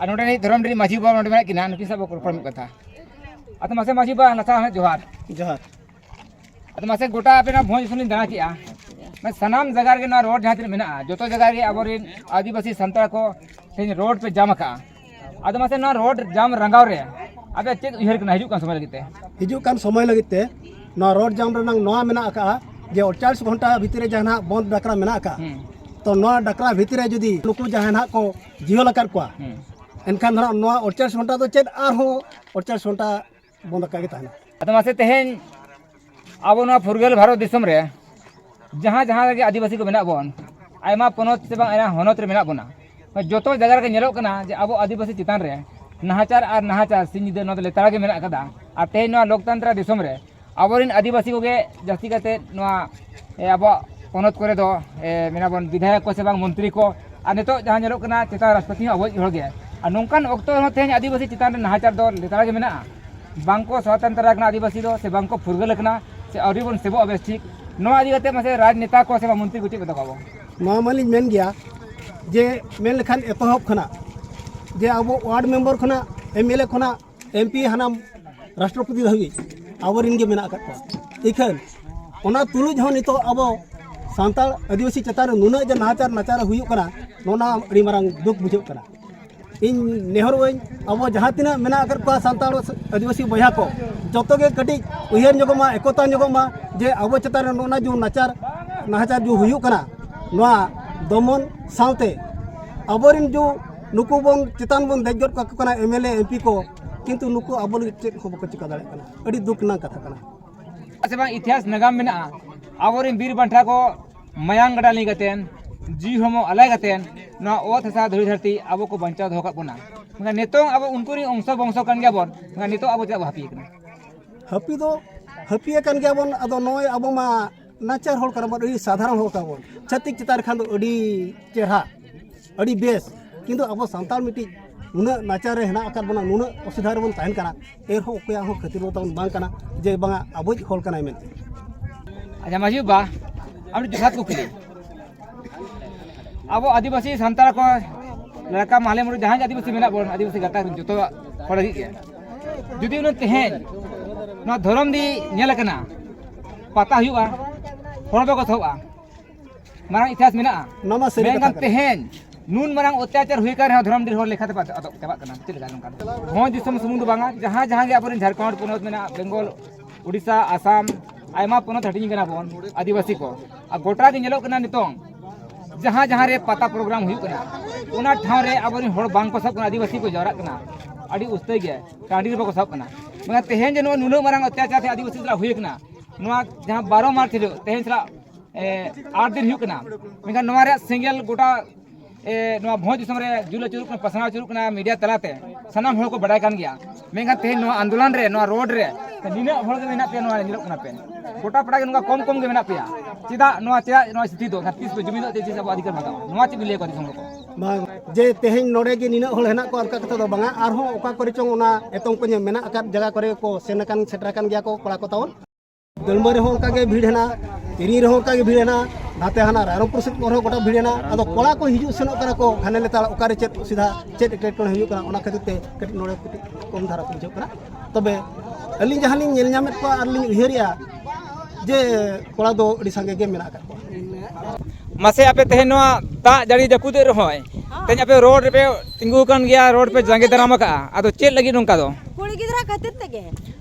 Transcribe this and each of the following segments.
ᱟᱨ ᱱᱚᱰᱮ ᱱᱤᱡ ᱫᱷᱚᱨᱚᱢ ᱨᱤᱱ ᱢᱟᱹᱡᱷᱤ ᱵᱟᱵᱟ ᱱᱚᱰᱮ ᱢᱮᱱᱟᱜ ᱠᱤᱱᱟ ᱱᱩᱠᱤᱱ ᱥᱟᱶ ᱵᱚ ᱨᱚᱯᱚᱲ ᱢᱤᱫ ᱠᱟᱛᱷᱟ ᱟᱫᱚ ᱢᱟᱥᱮ ᱢᱟᱹᱡᱷᱤ ᱵᱟᱵᱟ ᱞᱟᱛᱟ ᱦᱚᱸ ᱡᱚᱦᱟᱨ ᱡᱚᱦᱟᱨ ᱟᱫᱚ ᱢᱟᱥᱮ ᱜᱚᱴᱟ ᱟᱯᱮ ᱱᱚᱣᱟ ᱵᱷᱚᱸᱡᱽ ᱫᱤᱥᱚᱢ ᱞᱤᱧ ᱫᱟᱬᱟ ᱠᱮᱜᱼᱟ ᱢᱟᱱᱮ ᱥᱟᱱᱟᱢ ᱡᱟᱭᱜᱟ ᱨᱮᱜᱮ ᱱᱚᱣᱟ ᱨᱳᱰ ᱡᱟᱦᱟᱸ ᱛᱤᱱᱟᱹᱜ ᱢᱮᱱᱟᱜᱼᱟ ᱡᱚᱛᱚ ᱡᱟᱭᱜᱟ ᱨᱮᱜᱮ ᱟᱵᱚᱨᱮᱱ ᱟᱹᱫᱤᱵᱟᱹᱥᱤ ᱥᱟᱱᱛᱟᱲ ᱠᱚ ᱛᱮᱦᱮᱧ ᱨᱳᱰ ᱯᱮ ᱡᱟᱢ ᱟᱠᱟᱜᱼᱟ ᱟᱫᱚ ᱢᱟᱥᱮ ᱱᱚᱣᱟ ᱨᱳᱰ ᱡᱟᱢ ᱨᱟᱸᱜᱟᱣ ᱨᱮ ᱟᱯᱮ ᱪᱮᱫ ᱩᱭᱦᱟᱹᱨ ᱠᱟᱱᱟ ᱦᱤᱡᱩᱜ ᱠᱟᱱ ᱥᱚᱢᱚᱭ ᱞᱟᱹᱜᱤᱫ ᱛᱮ ᱦᱤᱡᱩᱜ ᱠᱟᱱ ᱥᱚᱢᱚᱭ ᱞᱟᱹᱜᱤᱫ ᱛᱮ ᱱᱚᱣᱟ ᱨᱳᱰ ᱡᱟᱢ ᱨᱮᱱᱟᱝ ᱱᱚᱣᱟ ᱢᱮᱱᱟᱜ ᱟᱠᱟᱜᱼᱟ ᱡᱮ ᱚᱲᱪᱟᱞᱤᱥ ᱜᱷᱚᱱᱴᱟ ᱵᱷᱤᱛᱤᱨ ᱨᱮ ᱡᱟᱦᱟᱸ ᱱᱟᱜ ᱵᱚᱱᱫ ᱰᱟᱠᱨᱟ ᱢᱮᱱᱟᱜ ᱟᱠᱟᱜᱼᱟ ᱛᱚ ᱱᱚᱣᱟ ᱰᱟᱠᱨᱟ ᱵᱷᱤᱛᱤᱨ ᱨᱮ ᱡᱩᱫᱤ ᱱᱩᱠᱩ ᱡᱟᱦᱟᱸᱭ ᱱᱟᱜ ᱠᱚ ᱡᱤᱭᱟᱹᱞ ᱟᱠᱟᱫ ᱠᱚᱣᱟ ᱮᱱᱠᱷᱟᱱ ᱫᱚ ᱦᱟᱸᱜ ᱱᱚᱣᱟ ᱚᱲᱪᱟᱥ ᱜᱷᱚᱱᱴᱟ ᱫᱚ ᱪᱮᱫ ᱟᱨᱦᱚᱸ ᱚᱲᱪᱟᱥ ᱜᱷᱚᱱᱴᱟ ᱵᱚᱱᱫᱚ ᱟᱠᱟᱫ ᱜᱮ ᱛᱟᱦᱮᱱᱟ ᱟᱫᱚ ᱢᱟᱥᱮ ᱛᱮᱦᱮᱧ ᱟᱵᱚ ᱱᱚᱣᱟ ᱯᱷᱩᱨᱜᱟᱹᱞ ᱵᱷᱟᱨᱚᱛ ᱫᱤᱥᱚᱢ ᱨᱮ ᱡᱟᱦᱟᱸ ᱡᱟᱦᱟᱸ ᱨᱮᱜᱮ ᱟᱹᱫᱤᱵᱟᱹᱥᱤ ᱠᱚ ᱢᱮᱱᱟᱜ ᱵᱚᱱ ᱟᱭᱢᱟ ᱯᱚᱱᱚᱛ ᱥᱮ ᱵᱟᱝ ᱟᱭᱢᱟ ᱦᱚᱱᱚᱛ ᱨᱮ ᱢᱮᱱᱟᱜ ᱵᱚᱱᱟ ᱡᱚᱛᱚ ᱡᱟᱭᱜᱟ ᱨᱮᱜᱮ ᱧᱮᱞᱚᱜ ᱠᱟᱱᱟ ᱡᱮ ᱟᱵᱚ ᱟᱹᱫᱤᱵᱟᱹᱥᱤ ᱪᱮᱛᱟᱱ ᱨᱮ ᱱᱟᱦᱟᱪᱟᱨ ᱟᱨ ᱱᱟᱦᱟᱪᱟᱨ ᱥᱤᱧ ᱧᱤᱫᱟᱹ ᱱᱚᱣᱟ ᱫᱚ ᱞᱮᱛᱟᱲ ᱜᱮ ᱢᱮᱱᱟᱜ ᱟᱠᱟᱫᱟ ᱟᱨ ᱛᱮᱦᱮᱧ ᱱᱚᱣᱟ ᱞᱳᱠᱛᱟᱱᱛᱨᱟ ᱫᱤᱥᱚᱢ ᱨᱮ ᱟᱵᱚᱨᱮᱱ ᱟᱹᱫᱤᱵᱟᱹᱥᱤ ᱠᱚᱜᱮ ᱡᱟᱹᱥᱛᱤ ᱠᱟᱛᱮᱫ ᱱᱚᱣᱟ ᱟᱵᱚᱣᱟᱜ ᱯᱚᱱᱚᱛ ᱠᱚᱨᱮ ᱫᱚ ᱢᱮᱱᱟᱵᱚᱱ ᱵᱤᱫᱷᱟᱭᱚᱠ ᱠᱚ ᱥᱮ ᱵᱟᱝ ᱢᱚᱱᱛᱨᱤ ᱠᱚ ᱟᱨ ᱱᱤᱛᱚᱜ ᱡᱟᱦᱟᱸ ᱧᱮᱞᱚᱜ ᱠᱟᱱᱟ ᱪᱮᱛᱟᱱ ᱨᱟᱥᱴᱨᱚᱯᱚᱛᱤ ᱦᱚᱸ ᱟᱵᱚᱭᱤᱡ ᱦᱚᱲᱜᱮ ᱟᱨ ᱱᱚᱝᱠᱟᱱ ᱚᱠᱛᱚ ᱨᱮᱦᱚᱸ ᱛᱮᱦᱮᱧ ᱟᱹᱫᱤᱵᱟᱹᱥᱤ ᱪᱮᱛᱟᱱ ᱨᱮ ᱱᱟᱦᱟᱪᱟᱨ ᱫᱚ ᱞᱮᱛᱟᱲ ᱜᱮ ᱢᱮᱱᱟᱜᱼᱟ ᱵᱟᱝ ᱠᱚ ᱥᱚᱛᱚᱱᱛᱨᱚ ᱟᱠᱟᱱᱟ ᱟᱹᱫᱤᱵᱟᱹᱥᱤ ᱫᱚ ᱥᱮ ᱵᱟᱝ ᱠᱚ ᱯᱷᱩᱨᱜᱟᱹᱞ ᱟᱠᱟᱱᱟ ᱥᱮ ᱟᱹᱣᱨᱤ ᱵᱚᱱ ᱥᱮᱵᱚᱜᱼᱟ ᱵᱮᱥ ᱴᱷᱤᱠ ᱱᱚᱣᱟ ᱤᱫᱤ ᱠᱟᱛᱮᱫ ᱢᱟᱥᱮ ᱨᱟᱡᱽᱱᱮᱛᱟ ᱠᱚ ᱥᱮ ᱢᱚᱱᱛᱨᱤ ᱠᱚ ᱪᱮᱫ ᱢᱮᱛᱟ ᱠᱚᱣᱟ ᱱᱚᱣᱟ ᱢᱟᱞᱤᱧ ᱢᱮᱱ ᱜᱮᱭᱟ ᱡᱮ ᱢᱮᱱ ᱞᱮᱠᱷᱟᱱ ᱮᱛᱚᱦᱚᱵ ᱠᱷᱚᱱᱟᱜ ᱡᱮ ᱟᱵᱚ ᱳᱣᱟᱨᱰ ᱢᱮᱢᱵᱟᱨ ᱠᱷᱚᱱᱟᱜ ᱮᱢ ᱮᱞ ᱮ ᱠᱷᱚᱱᱟᱜ ᱮᱢ ᱯᱤ ᱦᱟᱱᱟᱢ ᱨᱟᱥᱴᱨᱚᱯᱚᱛᱤ ᱫᱷᱟᱹᱵᱤᱡ ᱟᱵᱚᱨᱮᱱ ᱜᱮ ᱢᱮᱱᱟᱜ ᱟᱠᱟᱫ ᱠᱚᱣᱟ ᱤᱠᱷᱟᱹᱱ ᱚᱱᱟ ᱛᱩᱞᱩᱡ ᱦᱚᱸ ᱱᱤᱛᱚᱜ ᱟᱵᱚ ᱥᱟᱱᱛᱟᱲ ᱟᱹᱫᱤᱵᱟᱹᱥᱤ ᱪᱮᱛᱟᱱ ᱨᱮ ᱱᱩᱱᱟᱹᱜ ᱡᱮ ᱱᱟᱦᱟᱪᱟᱨ ᱱᱟᱪᱟᱨ ᱦᱩᱭᱩᱜ ᱠᱟᱱᱟ ᱱᱚᱣᱟ ᱟᱹᱰᱤ ᱢᱟᱨᱟᱝ ᱫᱩᱠ ᱵᱩᱡᱷᱟᱹᱜ ᱠᱟᱱᱟ ᱤᱧ ᱱᱮᱦᱚᱨᱚᱜᱼᱟᱹᱧ ᱟᱵᱚ ᱡᱟᱦᱟᱸ ᱛᱤᱱᱟᱹᱜ ᱢᱮᱱᱟᱜ ᱟᱠᱟᱫ ᱠᱚᱣᱟ ᱥᱟᱱᱛᱟᱲ ᱟᱹᱫᱤᱵᱟᱹᱥᱤ ᱵᱚᱭᱦᱟ ᱠᱚ ᱡᱚᱛᱚ ᱜᱮ ᱠᱟᱹᱴᱤᱡ ᱩᱭᱦᱟᱹᱨ ᱧᱚᱜᱚᱜ ᱢᱟ ᱮᱠᱚᱛᱟ ᱧᱚᱜᱚᱜ ᱢᱟ ᱡᱮ ᱟᱵᱚ ᱪᱮᱛᱟᱱ ᱨᱮ ᱱᱚᱜᱼᱚ ᱡᱩ ᱱᱟᱪᱟᱨ ᱱᱟᱦᱟᱪᱟᱨ ᱡᱩ ᱦᱩᱭᱩᱜ ᱠᱟᱱᱟ ᱱᱚᱣᱟ ᱫᱚᱢᱚᱱ ᱥᱟᱶᱛᱮ ᱟᱵᱚᱨᱮᱱ ᱡᱩ ᱱᱩᱠᱩ ᱵᱚᱱ ᱪᱮᱛᱟᱱ ᱵᱚᱱ ᱫᱮᱡ ᱜᱚᱫ ᱠᱟᱠᱚ ᱠᱟᱱᱟ ᱮᱢᱮᱞᱮ ᱮᱢᱯᱤ ᱠᱚ ᱠᱤᱱᱛᱩ ᱱᱩᱠᱩ ᱟᱵᱚ ᱞᱟᱹᱜᱤᱫ ᱪᱮᱫ ᱦᱚᱸ ᱵᱟᱠᱚ ᱪᱤᱠᱟᱹ ᱫᱟᱲᱮᱭᱟᱜ ᱠᱟᱱᱟ ᱟᱹᱰᱤ ᱫᱩᱠ ᱨᱮᱱᱟᱜ ᱠᱟᱛᱷᱟ ᱠᱟᱱᱟ ᱥᱮ ᱵᱟᱝ ᱤᱛᱤᱦᱟᱥ ᱱᱟᱜᱟᱢ ᱢᱮᱱᱟᱜᱼᱟ ᱟᱵᱚᱨᱮᱱ ᱵᱤᱨ ᱵᱟᱱᱴᱟ ᱠᱚ ᱢᱟᱭᱟᱝ ᱜᱟᱰᱟ ᱞᱤᱸᱜᱤ ᱠᱟᱛᱮᱱ ᱡᱤᱣᱤ ᱦᱚᱲᱢᱚ ᱟᱞᱟᱭ ᱠᱟᱛᱮᱱ ᱱᱚᱣᱟ ᱚᱛ ᱦᱟᱥᱟ ᱫᱷᱩᱲᱤ ᱫᱷᱟᱹᱨᱛᱤ ᱟᱵᱚ ᱠᱚ ᱵᱟᱧᱪᱟᱣ ᱫᱚᱦᱚ ᱠᱟᱜ ᱵᱚᱱᱟ ᱢᱮᱱᱠᱷᱟᱱ ᱱᱤᱛᱚᱝ ᱟᱵᱚ ᱩᱱᱠᱩ ᱨᱮᱱ ᱚᱝᱥᱚ ᱵᱚᱝᱥᱚ ᱠᱟᱱ ᱜᱮᱭᱟ ᱵᱚᱱ ᱢᱮᱱᱠᱷᱟᱱ ᱱᱤᱛᱚᱜ ᱟᱵᱚ ᱪᱮᱫᱟᱜ ᱵᱚ ᱦᱟᱹᱯᱤ ᱠᱟᱱᱟ ᱦᱟᱹᱯᱤ ᱫᱚ ᱦᱟᱹᱯᱤ ᱟᱠᱟᱱ ᱜᱮᱭᱟ ᱵᱚᱱ ᱟᱫᱚ ᱱᱚᱜᱼᱚᱭ ᱟᱵᱚ ᱢᱟ ᱱᱟᱪᱟᱨ ᱦᱚᱲ ᱠᱟᱱᱟ ᱵᱚᱱ ᱟᱹᱰᱤ ᱥᱟᱫᱷᱟᱨᱚᱱ ᱦᱚᱲ ᱠᱟᱱᱟ ᱵᱚᱱ ᱪᱷᱟᱹᱛᱤᱠ ᱪᱮᱛᱟᱱ ᱨᱮ ᱠᱷᱟᱱ ᱫᱚ ᱟᱹᱰᱤ ᱪᱮᱦᱨᱟ ᱟᱹᱰᱤ ᱵᱮᱥ ᱠᱤᱱᱛᱩ ᱟᱵᱚ ᱥᱟᱱᱛᱟᱲ ᱢᱤᱫᱴᱤᱡ ᱱᱩᱱᱟᱹᱜ ᱱᱟᱪᱟᱨ ᱨᱮ ᱦᱮᱱᱟᱜ ᱟᱠᱟᱫ ᱵᱚᱱᱟ ᱱᱩᱱᱟᱹᱜ ᱚᱥᱩᱵᱤᱫᱷᱟ ᱨᱮᱵᱚᱱ ᱛᱟᱦᱮᱱ ᱠᱟᱱᱟ ᱮᱱᱦᱚᱸ ᱚᱠᱚᱭᱟᱜ ᱦᱚᱸ ᱠᱷᱟᱹᱛᱤᱨ ᱫᱚ ᱛᱟᱵᱚᱱ ᱵᱟᱝ ᱠᱟᱱᱟ ᱡᱮ ᱵᱟᱝᱟ ᱟᱵᱚᱭᱤᱡ ᱦᱚᱲ ᱠᱟᱱᱟᱭ ᱢᱮᱱᱛᱮ ᱟᱪᱪᱷᱟ ᱢᱟᱹᱡᱷᱤ ᱵᱟ ᱟᱹᱰᱤ ᱡᱚᱛᱷᱟᱛ ᱠᱩᱠᱞᱤ ᱟᱵᱚ ᱟᱹᱫᱤᱵᱟᱹᱥᱤ ᱥᱟᱱᱛᱟᱲ ᱠᱚ ᱞᱮᱠᱟ ᱢᱟᱦᱞᱮ ᱢᱩᱨᱩ ᱡᱟᱦᱟᱸᱭ ᱟᱹᱫᱤᱵᱟᱹᱥᱤ ᱢᱮᱱᱟᱜ ᱵᱚᱱ ᱟᱹᱫᱤᱵᱟᱹᱥᱤ ᱜᱟᱛᱟᱠ ᱨᱮᱱ ᱡᱚᱛᱚ ᱦᱚᱲ ᱞᱟᱹᱜᱤᱫ ᱜᱮ ᱡᱩᱫᱤ ᱩᱱᱤ ᱛᱮᱦᱮᱧ ᱱᱚᱣᱟ ᱫᱷᱚᱨᱚᱢ ᱫᱤ ᱧᱮᱞ ᱟᱠᱟᱱᱟ ᱯᱟᱛᱟ ᱦᱩᱭᱩᱜᱼᱟ ᱦᱚᱲ ᱫᱚᱠᱚ ᱛᱷᱚᱜᱼᱟ ᱢᱟᱨᱟᱝ ᱤᱛᱤᱦᱟᱥ ᱢᱮᱱᱟᱜᱼᱟ ᱱᱚᱣᱟ ᱢᱟ ᱥᱟᱹᱨᱤ ᱠᱟᱛᱷᱟ ᱢᱮᱱᱠᱷᱟᱱ ᱠᱟᱱᱟ ᱛᱮᱦᱮᱧ ᱱᱩᱱ ᱢᱟᱨᱟᱝ ᱚᱛᱛᱟᱪᱟᱨ ᱦᱩᱭ ᱠᱟᱱ ᱨᱮᱦᱚᱸ ᱫᱷᱚᱨᱚᱢ ᱰᱤᱨ ᱦᱚᱲ ᱞᱮᱠᱷᱟᱛᱮ ᱵᱟᱫ ᱟᱫᱚᱜ ᱪᱟᱵᱟᱜ ᱠᱟᱱᱟ ᱪᱮᱫ ᱞᱮᱠᱟ ᱱᱚᱝᱠᱟ ᱫᱚ ᱵᱷᱚᱸᱡᱽ ᱫᱤᱥᱚᱢ ᱥᱩᱢᱩᱝ ᱫᱚ ᱵᱟᱝᱟ ᱡᱟᱦᱟᱸ ᱡᱟᱦᱟᱸ ᱜᱮ ᱟᱵᱚᱨᱮᱱ ᱡᱷᱟᱲᱠᱷᱚᱸᱰ ᱯᱚᱱᱚᱛ ᱢᱮᱱᱟᱜᱼᱟ ᱵᱮᱝᱜᱚᱞ ᱩᱲᱤᱥᱥᱟ ᱟᱥᱟᱢ ᱟᱭᱢᱟ ᱯᱚᱱᱚᱛ ᱦᱟᱹᱴᱤᱧ ᱠᱟᱱᱟ ᱵᱚᱱ ᱟᱹᱫᱤᱵᱟᱹᱥᱤ ᱠᱚ ᱟᱨ ᱜᱚᱴᱟ ᱜᱮ ᱧᱮᱞᱚᱜ ᱠᱟᱱᱟ ᱱᱤᱛᱚᱝ ᱡᱟᱦᱟᱸ ᱡᱟᱦᱟᱸ ᱨᱮ ᱯᱟᱛᱟ ᱯᱨᱳᱜᱨᱟᱢ ᱦᱩᱭᱩᱜ ᱠᱟᱱᱟ ᱚᱱᱟ ᱴᱷᱟᱶ ᱨᱮ ᱟᱵᱚᱨᱮᱱ ᱦᱚᱲ ᱵᱟᱝ ᱠᱚ ᱥᱟᱵ ᱠᱟᱱᱟ ᱟᱹᱫᱤᱵᱟᱹᱥᱤ ᱠᱚ ᱡᱟᱣᱨᱟᱜ ᱠᱟᱱᱟ ᱟᱹᱰᱤ ᱩᱥᱛᱟᱹᱭ ᱜᱮ ᱴᱟᱺᱰᱤ ᱨᱮ ᱵᱟᱠᱚ ᱥᱟᱵ ᱠᱟᱱᱟ ᱢᱮᱱᱠᱷᱟᱱ ᱛᱮᱦᱮᱧ ᱡᱮ ᱱᱚᱜᱼᱚᱭ ᱱᱩᱱᱟᱹᱜ ᱢᱟᱨᱟᱝ ᱚᱛᱛᱟᱪᱟᱨ ᱛᱮ ᱟᱹᱫᱤᱵᱟᱹᱥᱤ ᱥᱟᱞᱟᱜ ᱦᱩᱭ ᱠᱟᱱᱟ ᱱᱚᱣᱟ ᱡᱟᱦᱟᱸ ᱵᱟᱨᱚ ᱢᱟᱨᱪ ᱦᱤᱞᱳᱜ ᱛᱮᱦᱮᱧ ᱥᱟᱞᱟᱜ ᱟᱴ ᱫᱤᱱ ᱦᱩᱭᱩᱜ ᱠᱟᱱᱟ ᱢᱮᱱᱠᱷᱟᱱ ᱱᱚᱣᱟ ᱨᱮᱭᱟᱜ ᱥᱮᱸᱜᱮᱞ ᱜᱚᱴᱟ ᱱᱚᱣᱟ ᱵᱷᱚᱸᱡᱽ ᱫᱤᱥᱚᱢ ᱨᱮ ᱡᱩᱞ ᱟᱹᱪᱩᱨᱚᱜ ᱠᱟᱱᱟ ᱯᱟᱥᱱᱟᱣ ᱟᱹᱪᱩᱨᱚᱜ ᱠᱟᱱᱟ ᱢᱤᱰᱤᱭᱟ ᱛᱟᱞᱟᱛᱮ ᱥᱟᱱᱟᱢ ᱦᱚᱲ ᱠᱚ ᱵᱟᱰᱟᱭ ᱠᱟᱱ ᱜᱮᱭᱟ ᱢᱮᱱᱠᱷᱟᱱ ᱛᱮᱦᱮᱧ ᱱᱚᱣᱟ ᱟᱱᱫᱳᱞᱚᱱ ᱨᱮ ᱱᱚᱣᱟ ᱨᱳᱰ ᱨᱮ ᱱᱤᱱᱟᱹᱜ ᱦᱚᱲ ᱜᱮ ᱢᱮᱱᱟᱜ ᱯᱮᱭᱟ ᱱᱚᱣᱟ ᱨᱮ ᱧᱮᱞᱚᱜ ᱠᱟᱱᱟ ᱯᱮ ᱜᱚᱴᱟ ᱯᱟᱲᱟ ᱜᱮ ᱱᱚᱝᱠᱟ ᱠᱚᱢ ᱠᱚᱢ ᱜᱮ ᱢᱮᱱᱟᱜ ᱯᱮᱭᱟ ᱪᱮᱫᱟᱜ ᱱᱚᱣᱟ ᱪᱮᱫᱟᱜ ᱱᱚᱣᱟ ᱥᱛᱷᱤᱛᱤ ᱫᱚ ᱛᱤᱥ ᱯᱮ ᱡᱩᱢᱤᱫᱚᱜ ᱛᱮ ᱛᱤᱥ ᱟᱵᱚ ᱟᱹᱫᱷᱤᱠᱟᱨ ᱵᱟᱜᱟᱣᱟ ᱱᱚᱣᱟ ᱪᱮᱫ ᱵᱤᱱ ᱞᱟᱹᱭ ᱠᱚᱣᱟ ᱫᱤᱥᱚᱢ ᱦᱚᱲ ᱠᱚ ᱵᱟᱝ ᱡᱮ ᱛᱮᱦᱮᱧ ᱱᱚᱰᱮ ᱜᱮ ᱱᱤᱱᱟᱹᱜ ᱦᱚᱲ ᱦᱮᱱᱟᱜ ᱠᱚᱣᱟ ᱚᱱᱠᱟ ᱠᱟᱛᱷᱟ ᱫᱚ ᱵᱟᱝᱟ ᱟᱨᱦᱚᱸ ᱚᱠᱟ ᱠᱚᱨᱮ ᱪᱚᱝ ᱚᱱᱟ ᱮᱛᱚᱢ ᱠᱚᱧᱮ ᱢᱮᱱᱟᱜ ᱟᱠᱟᱫ ᱡᱟᱭᱜᱟ ᱠᱚᱨᱮ ᱠᱚ ᱥᱮᱱ ᱟᱠᱟᱱ ᱥᱮᱴᱮᱨ ᱟᱠᱟᱱ ᱜᱮᱭᱟ ᱠᱚ ᱠᱚᱲᱟ ᱠᱚ ᱛᱟᱵᱚᱱ ᱫᱟᱹᱲᱢᱟᱹ ᱨᱮᱦᱚᱸ ᱚᱱᱠᱟ ᱜᱮ ᱵᱷᱤᱲ ᱦᱮᱱᱟᱜ ᱛᱤᱨᱤ ᱨᱮᱦᱚᱸ ᱚᱱᱠᱟ ᱜᱮ ᱵᱷᱤᱲ ᱦᱮᱱᱟᱜ ᱱᱟᱛᱮ ᱦᱟᱱᱟ ᱨᱟᱭᱨᱚᱝᱯᱩᱨ ᱥᱮᱫ ᱠᱚᱨᱮ ᱜᱚᱴᱟ ᱵᱷᱤᱲ ᱦᱮᱱᱟᱜ ᱟᱫᱚ ᱠᱚᱲᱟ ᱠᱚ ᱦᱤᱡᱩᱜ ᱥᱮᱱᱚᱜ ᱠᱟᱱᱟ ᱠᱚ ᱦᱟᱱᱮ ᱞᱮᱛᱟᱲ ᱚᱠᱟᱨᱮ ᱪᱮᱫ ᱚᱥᱩᱵᱤᱫᱷᱟ ᱪᱮᱫ ᱮᱴᱠᱮᱴᱚᱬᱮ ᱦᱩᱭᱩᱜ ᱠᱟᱱᱟ ᱚᱱᱟ ᱠᱷᱟᱹᱛᱤᱨ ᱛᱮ ᱠᱟᱹᱴᱤᱡ ᱱᱚᱰᱮ ᱠᱟᱹᱴᱤᱡ ᱠᱚᱢ ᱫᱷᱟᱨᱟ ᱠᱚ ᱵᱩᱡᱷᱟᱹᱜ ᱠᱟᱱᱟ ᱛᱚᱵᱮ ᱟᱹᱞᱤᱧ ᱡᱟᱦᱟᱸ ᱞᱤᱧ ᱧᱮᱞ ᱧᱟᱢᱮᱫ ᱠᱚᱣᱟ ᱟᱨ ᱞᱤᱧ ᱩᱭᱦᱟᱹᱨᱮᱜᱼᱟ ᱡᱮ ᱠᱚᱲᱟ ᱫᱚ ᱟᱹᱰᱤ ᱥᱟᱸᱜᱮ ᱜᱮ ᱢᱮᱱᱟᱜ ᱟᱠᱟᱫ ᱠᱚᱣᱟ ᱢᱟᱥᱮ ᱟᱯᱮ ᱛᱮᱦᱮᱧ ᱱᱚᱣᱟ ᱫᱟᱜ ᱡᱟᱹᱲᱤ ᱡᱟᱹᱯᱩᱫ ᱨᱮᱦᱚᱸ ᱛᱮᱦᱮᱧ ᱟᱯᱮ ᱨᱳᱰ ᱨᱮᱯᱮ ᱛᱤᱸᱜᱩ ᱟᱠᱟᱱ ᱜᱮᱭᱟ ᱨᱳᱰ ᱯᱮ ᱡᱟᱸᱜᱮ ᱫᱟᱨᱟᱢ ᱟᱠᱟᱫᱼᱟ ᱟᱫᱚ ᱪᱮᱫ ᱞᱟᱹᱜᱤᱫ ᱱᱚᱝᱠᱟ ᱫᱚ ᱠᱩᱲᱤ ᱜᱤᱫᱽᱨᱟᱹ ᱠᱷᱟᱹᱛᱤᱨ ᱛᱮᱜᱮ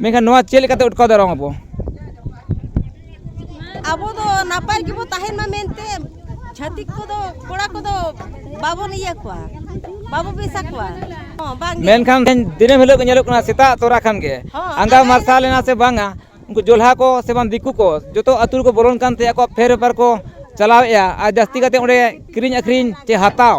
ᱢᱮᱱᱠᱷᱟᱱ ᱱᱚᱣᱟ ᱪᱮᱫ ᱞᱮᱠᱟᱛᱮ ᱟᱴᱠᱟᱣ ᱫᱟᱨᱟᱢ ᱟᱵᱚ ᱟᱵᱚ ᱫᱚ ᱱᱟᱯᱟᱭ ᱜᱮᱵᱚ ᱛᱟᱦᱮᱱ ᱢᱟ ᱢᱮᱱᱛᱮ ᱪᱷᱟᱹᱛᱤᱠ ᱠᱚᱫᱚ ᱠᱚᱲᱟ ᱠᱚᱫᱚ ᱵᱟᱵᱚᱱ ᱤᱭᱟᱹ ᱠᱚᱣᱟ ᱵᱟᱵᱚ ᱵᱮᱥᱟ ᱠᱚᱣᱟ ᱦᱚᱸ ᱵᱟᱝ ᱢᱮᱱᱠᱷᱟᱱ ᱫᱤᱱᱟᱹᱢ ᱦᱤᱞᱳᱜ ᱜᱮ ᱧᱮᱞᱚᱜ ᱠᱟᱱᱟ ᱥᱮᱛᱟᱜ ᱛᱚᱨᱟ ᱠᱷᱟᱱ ᱜᱮ ᱟᱸᱜᱟ ᱢᱟᱨᱥᱟᱞ ᱮᱱᱟ ᱥᱮ ᱵᱟᱝᱟ ᱩᱱᱠᱩ ᱡᱚᱞᱦᱟ ᱠᱚ ᱥᱮ ᱵᱟᱝ ᱫᱤᱠᱩ ᱠᱚ ᱡᱚᱛᱚ ᱟᱹᱛᱩ ᱨᱮᱠᱚ ᱵᱚᱞᱚᱱ ᱠᱟᱱᱛᱮ ᱟᱠᱚᱣᱟᱜ ᱯᱷᱮᱨ ᱵᱮᱯᱟᱨ ᱠᱚ ᱪᱟᱞᱟᱣᱮᱜᱼᱟ ᱟᱨ ᱡᱟᱹᱥᱛᱤ ᱠᱟᱛᱮ ᱚᱸᱰᱮ ᱠᱤᱨᱤᱧ ᱟᱹᱠᱷᱨᱤᱧ ᱪᱮ ᱦᱟᱛᱟᱣ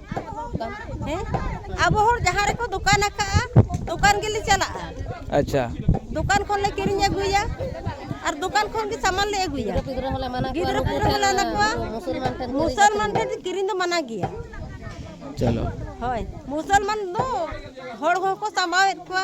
ᱦᱮᱸ ᱟᱵᱚ ᱦᱚᱲ ᱡᱟᱦᱟᱸ ᱨᱮᱠᱚ ᱫᱚᱠᱟᱱ ᱟᱠᱟᱫᱼᱟ ᱫᱚᱠᱟᱱ ᱜᱮᱞᱮ ᱪᱟᱞᱟᱜᱼᱟ ᱟᱪᱪᱷᱟ ᱫᱚᱠᱟᱱ ᱠᱷᱚᱱ ᱞᱮ ᱠᱤᱨᱤᱧ ᱟᱹᱜᱩᱭᱟ ᱟᱨ ᱫᱚᱠᱟᱱ ᱠᱷᱚᱱ ᱜᱮ ᱥᱟᱢᱟᱱ ᱞᱮ ᱟᱹᱜᱩᱭᱟ ᱜᱤᱫᱽᱨᱟᱹ ᱦᱚᱸᱞᱮ ᱢᱟᱱᱟ ᱠᱚᱣᱟ ᱜᱤᱫᱽᱨᱟᱹ ᱯᱤᱫᱽᱨᱟᱹ ᱦᱚᱸᱞᱮ ᱢᱟᱱᱟ ᱠᱚᱣᱟ ᱢᱩᱥᱚᱞᱢᱟᱱ ᱴᱷᱮᱱ ᱢᱩᱥᱚᱞᱢᱟᱱ ᱴᱷᱮᱱ ᱠᱤᱨᱤᱧ ᱫᱚ ᱢᱟᱱᱟ ᱜᱮᱭᱟ ᱪᱚᱞᱚ ᱦᱳᱭ ᱢᱩᱥᱚᱞᱢᱟᱱ ᱫᱚ ᱦᱚᱲ ᱦᱚᱸᱠᱚ ᱥᱟᱢᱵᱟᱣᱮᱫ ᱠᱚᱣᱟ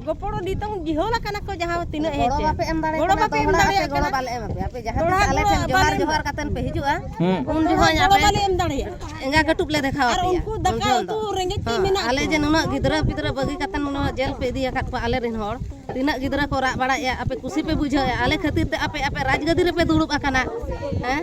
ᱜᱚᱯᱚᱲᱚ ᱱᱤᱛᱚᱝ ᱡᱤᱦᱚᱞ ᱟᱠᱟᱱᱟ ᱠᱚ ᱡᱟᱦᱟᱸ ᱛᱤᱱᱟᱹᱜ ᱦᱮᱡ ᱜᱚᱲᱚ ᱵᱟᱯᱮ ᱮᱢ ᱫᱟᱲᱮᱭᱟᱜ ᱠᱟᱱᱟ ᱫᱚᱦᱲᱟ ᱟᱯᱮ ᱜᱚᱲᱚ ᱵᱟᱞᱮ ᱮᱢᱟ ᱯᱮᱭᱟ ᱟᱯᱮ ᱡᱟᱦᱟᱸ ᱛᱤᱥ ᱟᱞᱮ ᱴᱷᱮᱱ ᱡᱚᱦᱟᱨ ᱡᱚᱦᱟᱨ ᱠᱟᱛᱮ ᱯᱮ ᱦᱤᱡᱩᱜᱼᱟ ᱩᱱ ᱡᱚᱦᱚᱜ ᱟᱯᱮ ᱵᱟᱞᱮ ᱮᱢ ᱫᱟᱲᱮᱭᱟᱜᱼᱟ ᱮᱸᱜᱟ ᱠᱟᱹᱴᱩᱵ ᱞᱮ ᱫᱮᱠᱷᱟᱣ ᱟᱯᱮᱭᱟ ᱩᱱᱠᱩ ᱫᱟᱠᱟ ᱩᱛᱩ ᱨᱮᱸᱜᱮᱡ ᱛᱮ ᱢᱮᱱᱟᱜ ᱟᱞᱮ ᱡᱮ ᱱᱩᱱᱟᱹᱜ ᱜᱤᱫᱽᱨᱟᱹ ᱯᱤᱫᱽᱨᱟᱹ ᱵᱟᱹᱜᱤ ᱠᱟᱛᱮ ᱱᱩᱱᱟᱹᱜ ᱡᱮᱞ ᱯᱮ ᱤᱫᱤ ᱟᱠᱟᱫ ᱠᱚᱣᱟ ᱟᱞᱮ ᱨᱮᱱ ᱦᱚᱲ ᱛᱤᱱᱟᱹᱜ ᱜᱤᱫᱽᱨᱟᱹ ᱠᱚ ᱨᱟᱜ ᱵᱟᱲᱟᱭᱮᱜᱼᱟ ᱟᱯᱮ ᱠᱩᱥᱤ ᱯᱮ ᱵᱩᱡᱷᱟᱹᱣᱮᱜᱼᱟ ᱟᱞᱮ ᱠᱷᱟᱹᱛᱤᱨ ᱛᱮ ᱟᱯᱮ ᱟᱯᱮ ᱨᱟᱡᱽ ᱜᱟᱹᱫᱤ ᱨᱮᱯᱮ ᱫᱩᱲᱩᱵ ᱟᱠᱟᱱᱟ ᱦᱮᱸ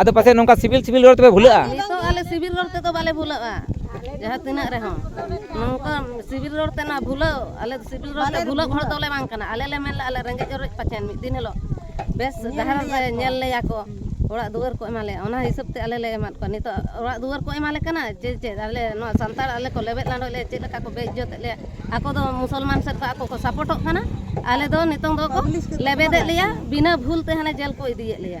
ᱟᱫᱚ ᱯᱟᱥᱮ ᱱᱚᱝᱠᱟ ᱥᱤᱵᱤᱞ ᱥᱤᱵᱤᱞ ᱨᱚᱲ ᱛᱮᱯᱮ ᱵᱷᱩᱞᱟᱹᱜᱼᱟ ᱛᱤᱥ ᱦᱚᱸ ᱟᱞᱮ ᱥᱤᱵᱤᱞ ᱨᱚᱲ ᱛᱮᱫᱚ ᱵᱟᱞᱮ ᱵᱷᱩᱞᱟᱹᱜᱼᱟ ᱡᱟᱦᱟᱸ ᱛᱤᱱᱟᱹᱜ ᱨᱮᱦᱚᱸ ᱱᱚᱝᱠᱟ ᱥᱤᱵᱤᱞ ᱨᱚᱲ ᱛᱮ ᱱᱚᱣᱟ ᱵᱷᱩᱞᱟᱹᱣ ᱟᱞᱮ ᱥᱤᱵᱤᱞ ᱨᱚᱲ ᱛᱮ ᱵᱷᱩᱞᱟᱹᱜ ᱦᱚᱲ ᱫᱚᱞᱮ ᱵᱟᱝ ᱠᱟᱱᱟ ᱟᱞᱮ ᱞᱮ ᱢᱮᱱ ᱞᱮᱫᱼᱟ ᱟᱞᱮ ᱨᱮᱸᱜᱮᱡ ᱚᱨᱮᱡ ᱯᱟᱪᱮᱱ ᱢᱤᱫ ᱫᱤᱱ ᱦᱤᱞᱳᱜ ᱵᱮᱥ ᱰᱟᱦᱟᱨ ᱨᱮ ᱧᱮᱞ ᱞᱮᱭᱟ ᱠᱚ ᱚᱲᱟᱜ ᱫᱩᱣᱟᱹᱨ ᱠᱚ ᱮᱢᱟ ᱞᱮᱭᱟ ᱚᱱᱟ ᱦᱤᱥᱟᱹᱵ ᱛᱮ ᱟᱞᱮ ᱞᱮ ᱮᱢᱟᱫ ᱠᱚᱣᱟ ᱱᱤᱛᱚᱜ ᱚᱲᱟᱜ ᱫᱩᱣᱟᱹᱨ ᱠᱚ ᱮᱢᱟᱞᱮ ᱠᱟᱱᱟ ᱪᱮᱫ ᱪᱮᱫ ᱟᱞᱮ ᱱᱚᱣᱟ ᱥᱟᱱᱛᱟᱲ ᱟᱞᱮ ᱠᱚ ᱞᱮᱵᱮᱫ ᱞᱟᱸᱰᱚᱜ ᱞᱮᱭᱟ ᱪᱮᱫ ᱞᱮᱠᱟ ᱠᱚ ᱵᱮᱼᱤᱡᱽᱡᱚᱛ ᱮᱫ ᱞᱮᱭᱟ ᱟᱠᱚ ᱫᱚ ᱢᱩᱥᱚᱞᱢᱟᱱ ᱥᱮᱫ ᱠᱷᱚᱱ ᱟᱠᱚ ᱠᱚ ᱥᱟᱯᱚᱴᱚᱜ ᱠᱟᱱᱟ ᱟᱞᱮ ᱫᱚ ᱱᱤᱛᱚᱝ ᱫᱚᱠᱚ ᱞᱮᱵᱮᱫᱮᱫ ᱞᱮᱭᱟ ᱵᱤᱱᱟᱹ ᱵᱷᱩᱞ ᱛᱮ ᱦᱟᱱᱮ ᱡᱮᱞ ᱠᱚ ᱤᱫᱤᱭᱮᱫ ᱞᱮᱭᱟ